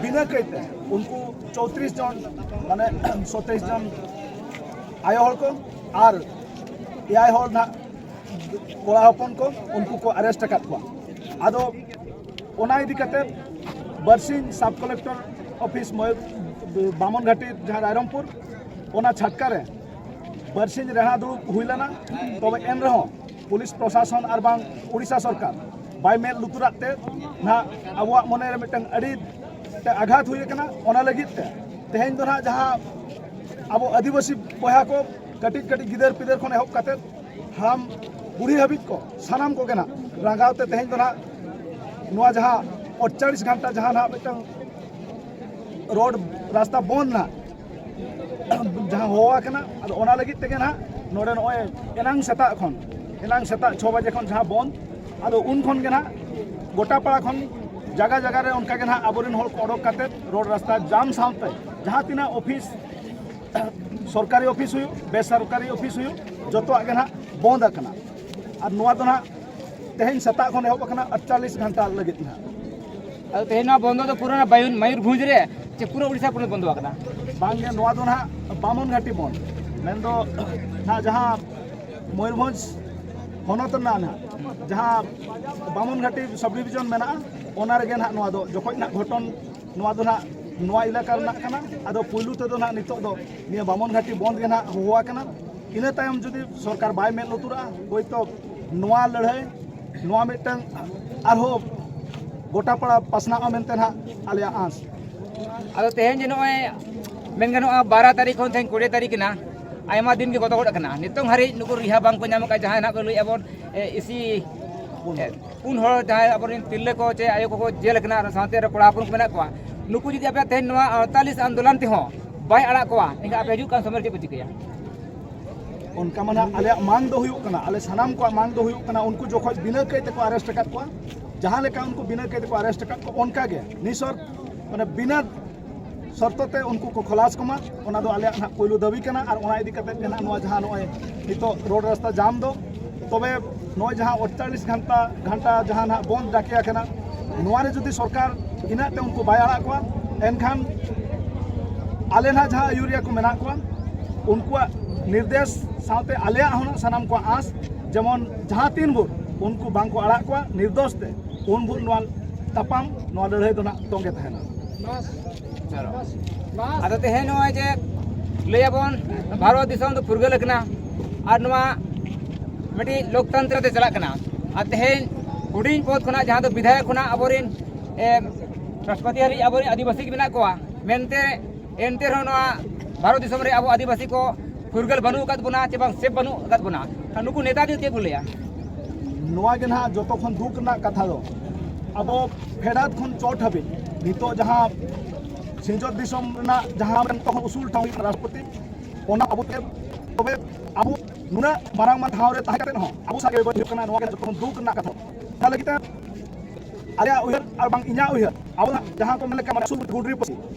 ᱵᱤᱱᱟᱹ ᱠᱟᱹᱭᱛᱮ ᱩᱱᱠᱩ ᱪᱳᱛᱨᱤᱥ ᱡᱚᱱ ᱢᱟᱱᱮ ᱥᱚᱛᱮᱭᱤᱥ ᱡᱚᱱ ᱟᱭᱳ ᱦᱚᱲ ᱠᱚ ᱟᱨ ᱮᱭᱟᱭ ᱦᱚᱲ ᱱᱟᱜ ᱠᱚᱲᱟ ᱦᱚᱯᱚᱱ ᱠᱚ ᱩᱱᱠᱩ ᱠᱚ ᱟᱨᱮᱥᱴ ᱟᱠᱟᱫ ᱠᱚᱣᱟ ᱟᱫᱚ ᱚᱱᱟ ᱤᱫᱤ ᱠᱟᱛᱮ ᱵᱟᱨᱥᱤᱧ ᱥᱟᱵ ᱠᱚᱞᱮᱠᱴᱚᱨ ᱚᱯᱷᱤᱥ ᱵᱟᱢᱚᱱ ᱜᱷᱟᱴᱤ ᱡᱟᱦᱟᱸ ᱨᱟᱭᱨᱚᱝᱯᱩᱨ ᱚᱱᱟ ᱪᱷᱟᱴᱠᱟ ᱨᱮ ᱵᱟᱨᱥᱤᱧ ᱨᱮᱦᱟ ᱫᱩᱲᱩᱵ ᱦᱩᱭ ᱞᱮᱱᱟ ᱛᱚᱵᱮ ᱮᱱ ᱨᱮᱦᱚᱸ ᱯᱩᱞᱤᱥ ᱯᱨᱚᱥᱟᱥᱚᱱ ᱟᱨ ᱵᱟᱝ ᱳᱰᱤᱥᱟ ᱥᱚᱨᱠᱟᱨ ᱵᱟᱭ ᱢᱮᱫ ᱞᱩᱛᱩᱨᱟᱜ ᱛᱮ ᱱᱟᱦᱟᱜ ᱟᱵᱚᱣᱟᱜ ᱢᱚᱱᱮᱨᱮ ᱢᱤᱫᱴᱟᱝ ᱟᱹᱰᱤ ᱢᱤᱫᱴᱟᱝ ᱟᱜᱷᱟᱛ ᱦᱩᱭ ᱟᱠᱟᱱᱟ ᱚᱱᱟ ᱞᱟᱹᱜᱤᱫ ᱛᱮ ᱛᱮᱦᱮᱧ ᱫᱚ ᱱᱟᱦᱟᱜ ᱡᱟᱦᱟᱸ ᱟᱵᱚ ᱟᱹᱫᱤᱵᱟᱹᱥᱤ ᱵᱚᱭᱦᱟ ᱠᱚ ᱠᱟᱹᱴᱤᱡ ᱠᱟᱹᱴᱤᱡ ᱜᱤᱫᱟᱹᱨ ᱯᱤᱫᱟᱹᱨ ᱠᱷᱚᱱ ᱮᱦᱚᱵ ᱠᱟᱛᱮ ᱦᱟᱲᱟᱢ ᱵᱩᱲᱦᱤ ᱦᱟᱹᱵᱤᱡ ᱠᱚ ᱥᱟᱱᱟᱢ ᱠᱚᱜᱮ ᱱᱟᱦᱟᱜ ᱨᱟᱸᱜᱟᱣ ᱛᱮ ᱛᱮᱦᱮᱧ ᱫᱚ ᱱᱟᱦᱟᱜ ᱱᱚᱣᱟ ᱡᱟᱦᱟᱸ ᱚᱴᱪᱟᱲᱤᱥ ᱜᱷᱟᱱᱴᱟ ᱡᱟᱦᱟᱸ ᱱᱟᱦᱟᱜ ᱢᱤᱫᱴᱟᱝ ᱨᱳᱰ ᱨᱟᱥᱛᱟ ᱵᱚᱱᱫ ᱱᱟᱦᱟᱜ ᱡᱟᱦᱟᱸ ᱦᱚᱦᱚ ᱟᱠᱟᱱᱟ ᱟᱫᱚ ᱚᱱᱟ ᱞᱟᱹᱜᱤᱫ ᱛᱮᱜᱮ ᱱᱟᱦᱟᱜ ᱱᱚᱰᱮ ᱱᱚᱜᱼᱚᱭ ᱮᱱᱟᱝ ᱥᱮᱛᱟᱜ ᱠᱷᱚᱱ ᱮᱱᱟᱝ ᱥᱮᱛᱟᱜ ᱪᱷᱚ ᱵᱟᱡᱮ ᱠᱷᱚᱱ ᱡᱟᱦᱟᱸ ᱵᱚᱱᱫ ᱟᱫᱚ ᱩᱱ ᱠᱷᱚᱱ ᱜᱮ ᱱᱟᱦᱟᱜ ᱜᱚᱴᱟ ᱯᱟᱲᱟ ᱠᱷᱚᱱ ᱡᱟᱭᱜᱟ ᱡᱟᱭᱜᱟ ᱨᱮ ᱚᱱᱠᱟ ᱜᱮ ᱱᱟᱦᱟᱜ ᱟᱵᱚᱨᱮᱱ ᱦᱚᱲ ᱠᱚ ᱚᱰᱚᱠ ᱠᱟᱛᱮ ᱨᱳᱰ ᱨᱟᱥᱛᱟ ᱡᱟᱢ ᱥᱟᱶᱛᱮ ᱡᱟᱦᱟᱸ ᱛᱤᱱᱟᱹᱜ ᱚᱯᱷᱤᱥ ᱥᱚᱨᱠᱟᱨᱤ ᱚᱯᱷᱤᱥ ᱦᱩᱭᱩᱜ ᱵᱮᱥᱚᱨᱠᱟᱨᱤ ᱚᱯᱷᱤᱥ ᱦᱩᱭᱩᱜ ᱡᱚᱛᱚᱣᱟᱜ ᱜᱮ ᱱᱟᱦᱟᱜ ᱵᱚᱱᱫ ᱟᱠᱟᱱᱟ ᱟᱨ ᱱᱚᱣᱟ ᱫᱚ ᱱᱟᱦᱟᱜ ᱛᱮᱦᱮᱧ ᱥᱮᱛᱟᱜ ᱠᱷᱚᱱ ᱮᱦᱚᱵ ᱟᱠᱟᱱᱟ ᱟᱴᱪᱟᱞᱞᱤᱥ ᱜᱷᱚᱱᱴᱟ ᱞᱟᱹᱜᱤᱫ ᱱᱟᱦᱟᱜ ᱟᱫᱚ ᱛᱮᱦᱮᱧ ᱱᱚᱣᱟ ᱵᱚᱱᱫᱚ ᱫᱚ ᱯᱩᱨᱟᱹ ᱢᱚᱭᱩᱨᱵᱷᱚᱸᱡᱽ ᱨᱮ ᱪᱮ ᱯᱩᱨᱟᱹ ᱩᱲᱤᱥᱥᱟ ᱯᱚᱱᱚᱛ ᱵᱚᱱᱫᱚ ᱟᱠᱟᱱᱟ ᱵᱟᱝᱜᱮ ᱱᱚᱣᱟ ᱫᱚ ᱱᱟᱦᱟᱜ ᱵᱟᱢᱚᱱ ᱜᱷᱟᱴᱤ ᱵᱚᱱ ᱢᱮᱱᱫᱚ ᱱᱟᱦᱟᱜ ᱡᱟᱦᱟᱸ ᱢᱚᱭᱩᱨᱵᱷᱚᱸᱡᱽ ᱦᱚᱱᱚᱛ ᱨᱮᱱᱟᱜ ᱱᱟᱦᱟᱜ ᱡᱟᱦᱟᱸ ᱵᱟᱢᱚᱱ ᱜᱷᱟᱴᱤ ᱥᱟᱵ ᱰᱤᱵᱷᱤᱡᱚᱱ ᱢᱮᱱᱟᱜᱼᱟ ᱚᱱᱟ ᱨᱮᱜᱮ ᱱᱟᱦᱟᱜ ᱱᱚᱣᱟ ᱫᱚ ᱡᱚᱠᱷᱚᱡ ᱱᱟᱦᱟᱜ ᱜᱷᱚᱴᱚᱱ ᱱᱚᱣᱟ ᱫᱚ ᱱᱟᱦᱟᱜ ᱱᱚᱣᱟ ᱮᱞᱟᱠᱟ ᱨᱮᱱᱟᱜ ᱠᱟᱱᱟ ᱟᱫᱚ ᱯᱩᱭᱞᱩ ᱛᱮᱫᱚ ᱱᱟᱦᱟᱜ ᱱᱤᱛᱚᱜ ᱫᱚ ᱱᱤᱭᱟᱹ ᱵᱟᱢᱚᱱ ᱜᱷᱟᱴᱤ ᱵᱚᱱᱫᱽ ᱜᱮ ᱱᱟᱦᱟᱜ ᱦᱚᱦᱚ ᱟᱠᱟᱱᱟ ᱤᱱᱟᱹ ᱛᱟᱭᱚᱢ ᱡᱩᱫᱤ ᱥᱚᱨᱠᱟᱨ ᱵᱟᱭ ᱢᱮᱫ ᱞᱩᱛᱩᱨᱟᱜᱼᱟ ᱦᱳᱭᱛᱳ ᱱᱚᱣᱟ ᱞᱟᱹᱲᱦᱟᱹᱭ ᱱᱚᱣᱟ ᱢᱤᱫᱴᱟᱝ ᱟᱨᱦᱚᱸ ᱜᱚᱴᱟ ᱯᱟᱲᱟ ᱯᱟᱥᱱᱟᱜᱼᱟ ᱢᱮᱱᱛᱮ ᱱᱟᱦᱟᱜ ᱟᱞᱮᱭᱟᱜ ᱟᱸᱥ ᱟᱫᱚ ᱛᱮᱦᱮᱧ ᱡᱮ ᱱᱚᱜᱼᱚᱭ ᱢᱮᱱ ᱜᱟᱱᱚᱜᱼᱟ ᱵᱟᱨᱚ ᱛᱟᱹᱨᱤᱠᱷ ᱠᱷᱚᱱ ᱛᱮᱦᱮᱧ ᱠᱩᱲᱤ ᱛᱟᱹᱨᱤᱠᱷ ᱮᱱᱟ ᱟᱭᱢᱟ ᱫᱤᱱ ᱜᱮ ᱜᱚᱫᱚ ᱜᱚᱫ ᱟᱠᱟᱱᱟ ᱱᱤᱛᱚᱝ ᱦᱟᱹᱨᱤᱡ ᱱᱩᱠᱩ ᱨᱤᱦᱟ ᱵᱟᱝᱠᱚ ᱧᱟᱢ ᱟᱠᱟᱫ ᱡᱟᱦᱟᱸᱭ ᱱᱟᱦᱟᱜ ᱠᱚ ᱞᱟᱹᱭᱮᱫᱼᱟ ᱵᱚᱱ ᱤᱥᱤ ᱯᱩᱱ ᱦᱚᱲ ᱡᱟᱦᱟᱸᱭ ᱟᱵᱚᱨᱮᱱ ᱛᱤᱨᱞᱟᱹ ᱠᱚ ᱪᱮ ᱟᱭᱳ ᱠᱚᱠᱚ ᱡᱮᱞ ᱟᱠᱟᱱᱟ ᱟᱨ ᱥᱟᱶᱛᱮ ᱨᱮ ᱠᱚᱲᱟ ᱦᱚᱯᱚᱱ ᱠᱚ ᱢᱮᱱᱟᱜ ᱠᱚᱣᱟ ᱱᱩᱠᱩ ᱡᱩᱫᱤ ᱟᱯᱮ ᱛᱮᱦᱮᱧ ᱱᱚᱣᱟ ᱟᱲᱛᱟᱞᱤᱥ ᱟᱱᱫᱳᱞᱚᱱ ᱛᱮᱦᱚᱸ ᱵᱟᱭ ᱟᱲᱟᱜ ᱠᱚᱣᱟ ᱮᱱᱠᱷᱟᱱ ᱟᱯᱮ ᱦᱤᱡᱩᱜ ᱠᱟᱱ ᱥᱚᱢᱚᱭ ᱪᱮᱫ ᱯᱮ ᱪᱤᱠᱟᱹᱭᱟ ᱚᱱᱠᱟ ᱢᱟᱱᱟ ᱟᱞᱮᱭᱟᱜ ᱢᱟᱝ ᱫᱚ ᱦᱩᱭᱩᱜ ᱠᱟᱱᱟ ᱟᱞᱮ ᱥᱟᱱᱟᱢ ᱠᱚᱣᱟᱜ ᱢᱟᱝ ᱫᱚ ᱦᱩᱭᱩᱜ ᱠᱟᱱᱟ ᱩᱱᱠᱩ ᱡᱚᱠᱷᱚᱡ ᱵᱤᱱᱟᱹ ᱠᱟᱹᱭ ᱛᱮᱠᱚ ᱟᱨᱮᱥᱴ ᱟᱠᱟᱫ ᱠᱚᱣᱟ ᱡᱟᱦᱟᱸ ᱞᱮᱠᱟ ᱩᱱᱠᱩ ᱵᱤᱱᱟᱹ ᱠᱟᱹᱭ ᱛᱮᱠᱚ ᱟᱨᱮᱥᱴ ᱟᱠᱟᱫ ᱠᱚᱣᱟ ᱚᱱᱠᱟᱜᱮ ᱱᱤᱥᱚᱨ ᱢᱟᱱᱮ ᱵᱤᱱᱟᱹ ᱥᱚᱨᱛᱚ ᱛᱮ ᱩᱱᱠᱩ ᱠᱚ ᱠᱷᱚᱞᱟᱥ ᱠᱚᱢᱟ ᱚᱱᱟ ᱫᱚ ᱟᱞᱮᱭᱟᱜ ᱱᱟᱦᱟᱜ ᱯᱳᱭᱞᱳ ᱫᱟᱹᱵᱤ ᱠᱟᱱᱟ ᱟᱨ ᱚᱱᱟ ᱤᱫᱤ ᱠᱟᱛᱮ ᱜᱮ ᱱᱟᱦᱟᱜ ᱱᱚᱣᱟ ᱡᱟᱦᱟᱸ ᱱᱚᱜᱼᱚᱭ ᱱᱤᱛᱚᱜ ᱨᱳᱰ ᱨᱟᱥᱛᱟ ᱡᱟᱢ ᱫᱚ ᱛᱚᱵᱮ ᱱᱚᱜᱼᱚᱭ ᱡᱟᱦᱟᱸ ᱚᱲᱪᱟᱞᱤᱥ ᱜᱷᱟᱱᱴᱟ ᱜᱷᱟᱱᱴᱟ ᱡᱟᱦᱟᱸ ᱱᱟᱦᱟᱜ ᱵᱚᱱᱫ ᱰᱟᱠᱮ ᱟᱠᱟᱱᱟ ᱱᱚᱣᱟ ᱨᱮ ᱡᱩᱫᱤ ᱥᱚᱨᱠᱟᱨ ᱤᱱᱟᱹᱜ ᱛᱮ ᱩᱱᱠᱩ ᱵᱟᱭ ᱟᱲᱟᱜ ᱠᱚᱣᱟ ᱮᱱᱠᱷᱟᱱ ᱟᱞᱮ ᱱᱟᱦᱟᱜ ᱡᱟᱦᱟᱸ ᱟᱹᱭᱩᱨᱤᱭᱟᱹ ᱠᱚ ᱢᱮᱱᱟᱜ ᱠᱚᱣᱟ ᱩᱱᱠᱩᱣᱟᱜ ᱱᱤᱨᱫᱮᱥ ᱥᱟᱶᱛᱮ ᱟᱞᱮᱭᱟᱜ ᱦᱚᱸ ᱥᱟᱱᱟᱢ ᱠᱚᱣᱟᱜ ᱟᱸᱥ ᱡᱮᱢᱚᱱ ᱡᱟᱦᱟᱸ ᱛᱤᱱ ᱵᱷᱳᱨ ᱩᱱᱠᱩ ᱵᱟᱝᱠᱚ ᱟᱲᱟᱜ ᱠᱚᱣᱟ ᱱᱤᱨᱫᱚᱥ ᱛᱮ ᱩᱱ ᱵᱷᱳᱨ ᱱᱚᱣᱟ ᱛᱟᱯᱟᱢ ᱱᱚᱣᱟ ᱞᱟᱹᱲᱦᱟᱹᱭ ᱫᱚ ᱱᱟᱦᱟᱜ ᱛᱚᱸᱜᱮ ᱛᱟᱦᱮᱱᱟ ᱟᱫᱚ ᱛᱮᱦᱮᱧ ᱱᱚᱜᱼᱚᱭ ᱡᱮ ᱞᱟᱹᱭᱟᱵᱚᱱ ᱵᱷᱟᱨᱚᱛ ᱫᱤᱥᱚᱢ ᱫᱚ ᱯᱷᱩᱨᱜᱟᱹᱞ ᱟᱠᱟᱱᱟ ᱟᱨ ᱱᱚᱣᱟ ᱢᱤᱫᱴᱤᱡ ᱞᱳᱠᱛᱚᱱᱛᱨᱚ ᱛᱮ ᱪᱟᱞᱟᱜ ᱠᱟᱱᱟ ᱟᱨ ᱛᱮᱦᱮᱧ ᱦᱩᱰᱤᱧ ᱯᱚᱫ ᱠᱷᱚᱱᱟᱜ ᱡᱟᱦᱟᱸ ᱫᱚ ᱵᱤᱫᱷᱟᱭᱚᱠ ᱠᱷᱚᱱᱟᱜ ᱟᱵᱚᱨᱮᱱ ᱨᱟᱥᱴᱨᱚᱯᱚᱛᱤ ᱦᱟᱹᱨᱤᱡ ᱟᱵᱚᱨᱮᱱ ᱟᱹᱫᱤᱵᱟᱹᱥᱤ ᱜᱮ ᱢᱮᱱᱟᱜ ᱠᱚᱣᱟ ᱢᱮᱱᱛᱮ ᱮᱱᱛᱮ ᱨᱮᱦᱚᱸ ᱱᱚᱣᱟ ᱵᱷᱟᱨᱚᱛ ᱫᱤᱥᱚᱢ ᱨᱮ ᱟᱵᱚ ᱟᱹᱫᱤᱵᱟᱹᱥᱤ ᱠᱚ ᱯᱷᱩᱨᱜᱟᱹᱞ ᱵᱟᱹᱱᱩᱜ ᱟᱠᱟᱫ ᱵᱚᱱᱟ ᱪᱮ ᱵᱟᱝ ᱥᱮᱵᱷ ᱵᱟᱹᱱᱩᱜ ᱟᱠᱟᱫ ᱵᱚᱱᱟ ᱟᱨ ᱱᱩᱠᱩ ᱱᱮᱛᱟ ᱫᱚ ᱪᱮᱫ ᱠᱚ ᱞᱟᱹᱭᱟ ᱱᱚᱣᱟ ᱜᱮ ᱱᱟᱦᱟᱜ ᱡᱚᱛᱚ ᱠᱷᱚᱱ ᱫᱩᱠ ᱨᱮᱱᱟᱜ ᱠᱟᱛᱷᱟ ᱫᱚ ᱟᱵᱚ ᱯᱷᱮᱰᱟᱛ ᱠᱷᱚᱱ ᱪᱚᱴ ᱦᱟᱹᱵᱤᱡ ᱱᱤᱛᱚᱜ ᱡᱟᱦᱟᱸ ᱥᱤᱧᱚᱛ ᱫᱤᱥᱚᱢ ᱨᱮᱱᱟᱜ ᱡᱟᱦᱟᱸ ᱱᱤᱛᱚᱜ ᱦᱚᱸ ᱩᱥᱩᱞ ᱴᱷᱟᱶ ᱦᱩᱭᱩᱜ ᱨᱟᱥᱴᱨᱚᱯᱚᱛᱤ ᱚᱱᱟ ᱟᱵᱚ ᱛᱮ ᱛᱚᱵᱮ ᱟᱵᱚ ᱱᱩᱱᱟᱹᱜ ᱢᱟᱨᱟᱝ ᱢᱟᱨᱟᱝ ᱴᱷᱟᱶ ᱨᱮ ᱛᱟᱦᱮᱸ ᱠᱟᱛᱮ ᱦᱚᱸ ᱟᱵᱚ ᱥᱟᱜᱮ ᱵᱟᱹᱭ ᱦᱩᱭᱩᱜ ᱠᱟᱱᱟ ᱱᱚᱣᱟ ᱜᱮ ᱡᱚᱛᱚ ᱠᱷᱚᱱ ᱫᱩᱠ ᱨᱮᱱᱟᱜ ᱠᱟᱛᱷᱟ ᱚᱱᱟ ᱞᱟᱹᱜᱤᱫ ᱛᱮ ᱟᱞᱮᱭᱟᱜ ᱩᱭᱦᱟᱹᱨ ᱟᱨ ᱵᱟᱝ ᱤᱧᱟᱹᱜ ᱩᱭᱦᱟᱹᱨ ᱟᱵᱚ ᱡᱟᱦᱟᱸ ᱠᱚ ᱢᱮᱱ ᱞᱮᱠᱟ ᱢᱟᱱᱮ ᱥᱩᱨ ᱜᱩᱰᱨᱤ ᱯᱟᱹᱥᱤ